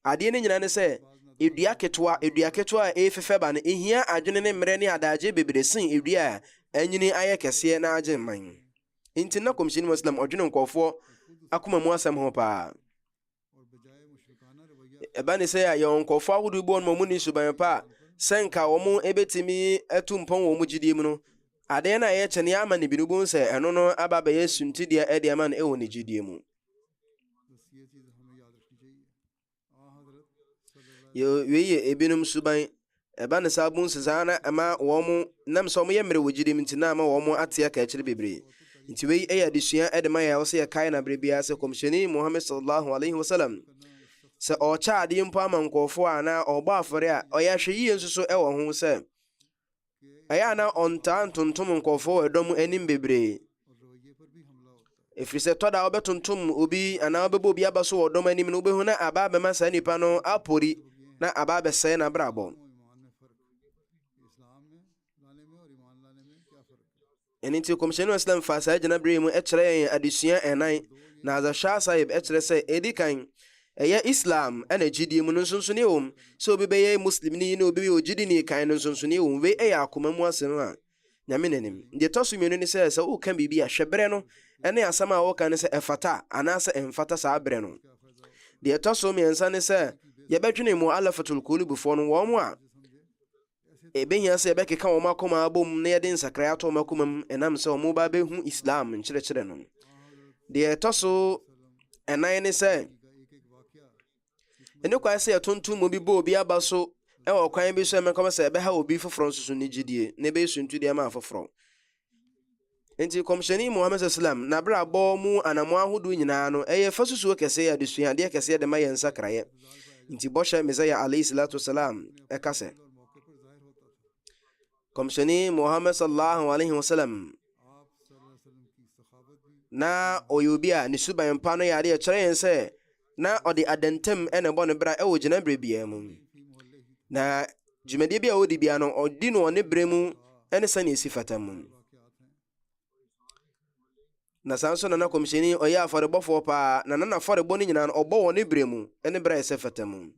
Adeɛ no nyinaa ne sɛ edua ketewa edua ketewa a efefɛ ba no ehia adwene ne mmerɛ ne adaagye bebree sen edua a anyini ayɛ kɛseɛ na agye mman. Nti na kɔmhyɛni Muhammad sallam ɔdwene nkorɔfoɔ akoma mu asɛm ho paa. Ɛba ne sɛ a yɛwɔ nkurɔfo ahodoɔ bi wɔn a wɔnni suban pa a sɛ nka wɔbɛtumi atu mpɔn wɔ wɔn gyidie mu no adeɛ no a ɛyɛ kyɛne ama no bi no bohu sɛ ɛno no aba bɛyɛ suntideɛ ɛde ama no ɛwɔ ne gyidie mu wei yɛ ebinom suban Ɛba no saa bu nso saa na ɛma wɔn nam sɛ wɔyɛ mmerɛ wɔ gyidie mu nti na ama wɔn ate akaakyire bebree. Nti wei yɛ adesua de ma yɛn a ɛwɔ sɛ yɛkae no aberɛ biara sɛ Kɔmhyɛni Muhammad sallallahu alaihi wasallam sɛ ɔrekyɛ adeɛ mpo ama nkurɔfoɔ a anaa ɔrebɔ afɔre a ɔyɛ ahwɛyie nso so wɔ ho sɛ ɛyɛ a na ɔntaa ntontom nkurɔfoɔ wɔ ɛdɔm anim bebree. ɛfiri sɛ tɔ da wobɛtontom obi anaa wobɛbɔ obi aba so wɔ dɔm anim no wobɛhu na aba abɛma saa nipa no apori na aba abɛsɛe n'abrabɔ ɛno nti kɔmhyɛni islam faa saa gyinaberɛ mu ɛkyerɛ yɛn adesua ɛnan na azahwɛ sahib ɛkyerɛ sɛ ɛdi kan ɛyɛ islam ɛna gyidie mu no nsonsoni wɔ mu sɛ obi bɛyɛ muslimni ne obi bɛyɛ ogyidini kan no nsonsoni wɔ mu wei ɛyɛ akoma mu asɛm a Nyame na nim. Deɛ ɛtɔ so mmienu ne sɛ, sɛ woreka biribi a, hwɛ berɛ no ne asɛm a woreka no sɛ ɛfata anaasɛ ɛmfata saa berɛ no. Deɛ ɛtɔ so mmiɛnsa ne sɛ, yɛbɛdwene Mu'allafatul Qulubufoɔ no, wɔn a ɛbɛhia sɛ yɛbɛkeka wɔn akoma abom na yɛde nsakrae ato wɔn akoma mu ɛnam sɛ wɔn ba bɛhu Islam nkyerɛkyerɛ no. Deɛ ɛtɔ so ɛnan ne sɛ, Ɛne kwan sɛ yɛtontom obi bɔ obi aba so wɔ ɔkwan bi so a ɛmɛkɔm sɛ ɛbɛha obi foforɔ nso so ne gyidie na ɛbɛyɛ suntudeɛ ma afoforɔ. Nti kɔmhyɛni Muhammad sallam n'abrabɔ mu anamo ahodoɔ nyinaa no ɛyɛ fasusuo kɛseɛ adesua adeɛ kɛseɛ de ma yɛn nsakraeɛ. Nti bɔhyɛ Messiah alayhi salatu wasalam ɛka sɛ Kɔmhyɛni Muhammad sallallahu alaihi wasallam na ɔyɛ obi a ne suban pa no yɛ adeɛ kyerɛ yɛn sɛ na ɔde adantam na ɛbɔ ne bra wɔ gyinaberɛ biara mu na dwumadie bi a ɔdi biara no ɔdi no ɔne berɛ mu ne sɛnea ɛsi fata mu Na saa nso na na kɔmhyɛni ɔyɛ afɔrebɔfoɔ paa, na na n'afɔrebɔ no nyinaa no ɔbɔ wɔ ne berɛ mu ne berɛ a ɛsɛ fata mu.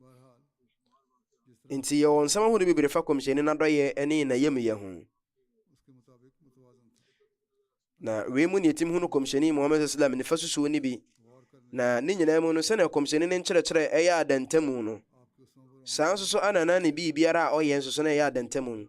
Nti yɛwɔ nsɛm ahodoɔ bebree fa kɔmhyɛni n'adɔyɛ ne n'ayamyɛ ho. Na wei mu ne yɛtim hunu kɔmhyɛni Muhammad sallam nifa susuo no bi. Na ne nyinaa mu no sɛnea kɔmhyɛni ne nkyerɛkyerɛ ɛyɛ adantamu no saa nso so anana ne biribiara a ɔyɛ nso so na ɛyɛ adantamu.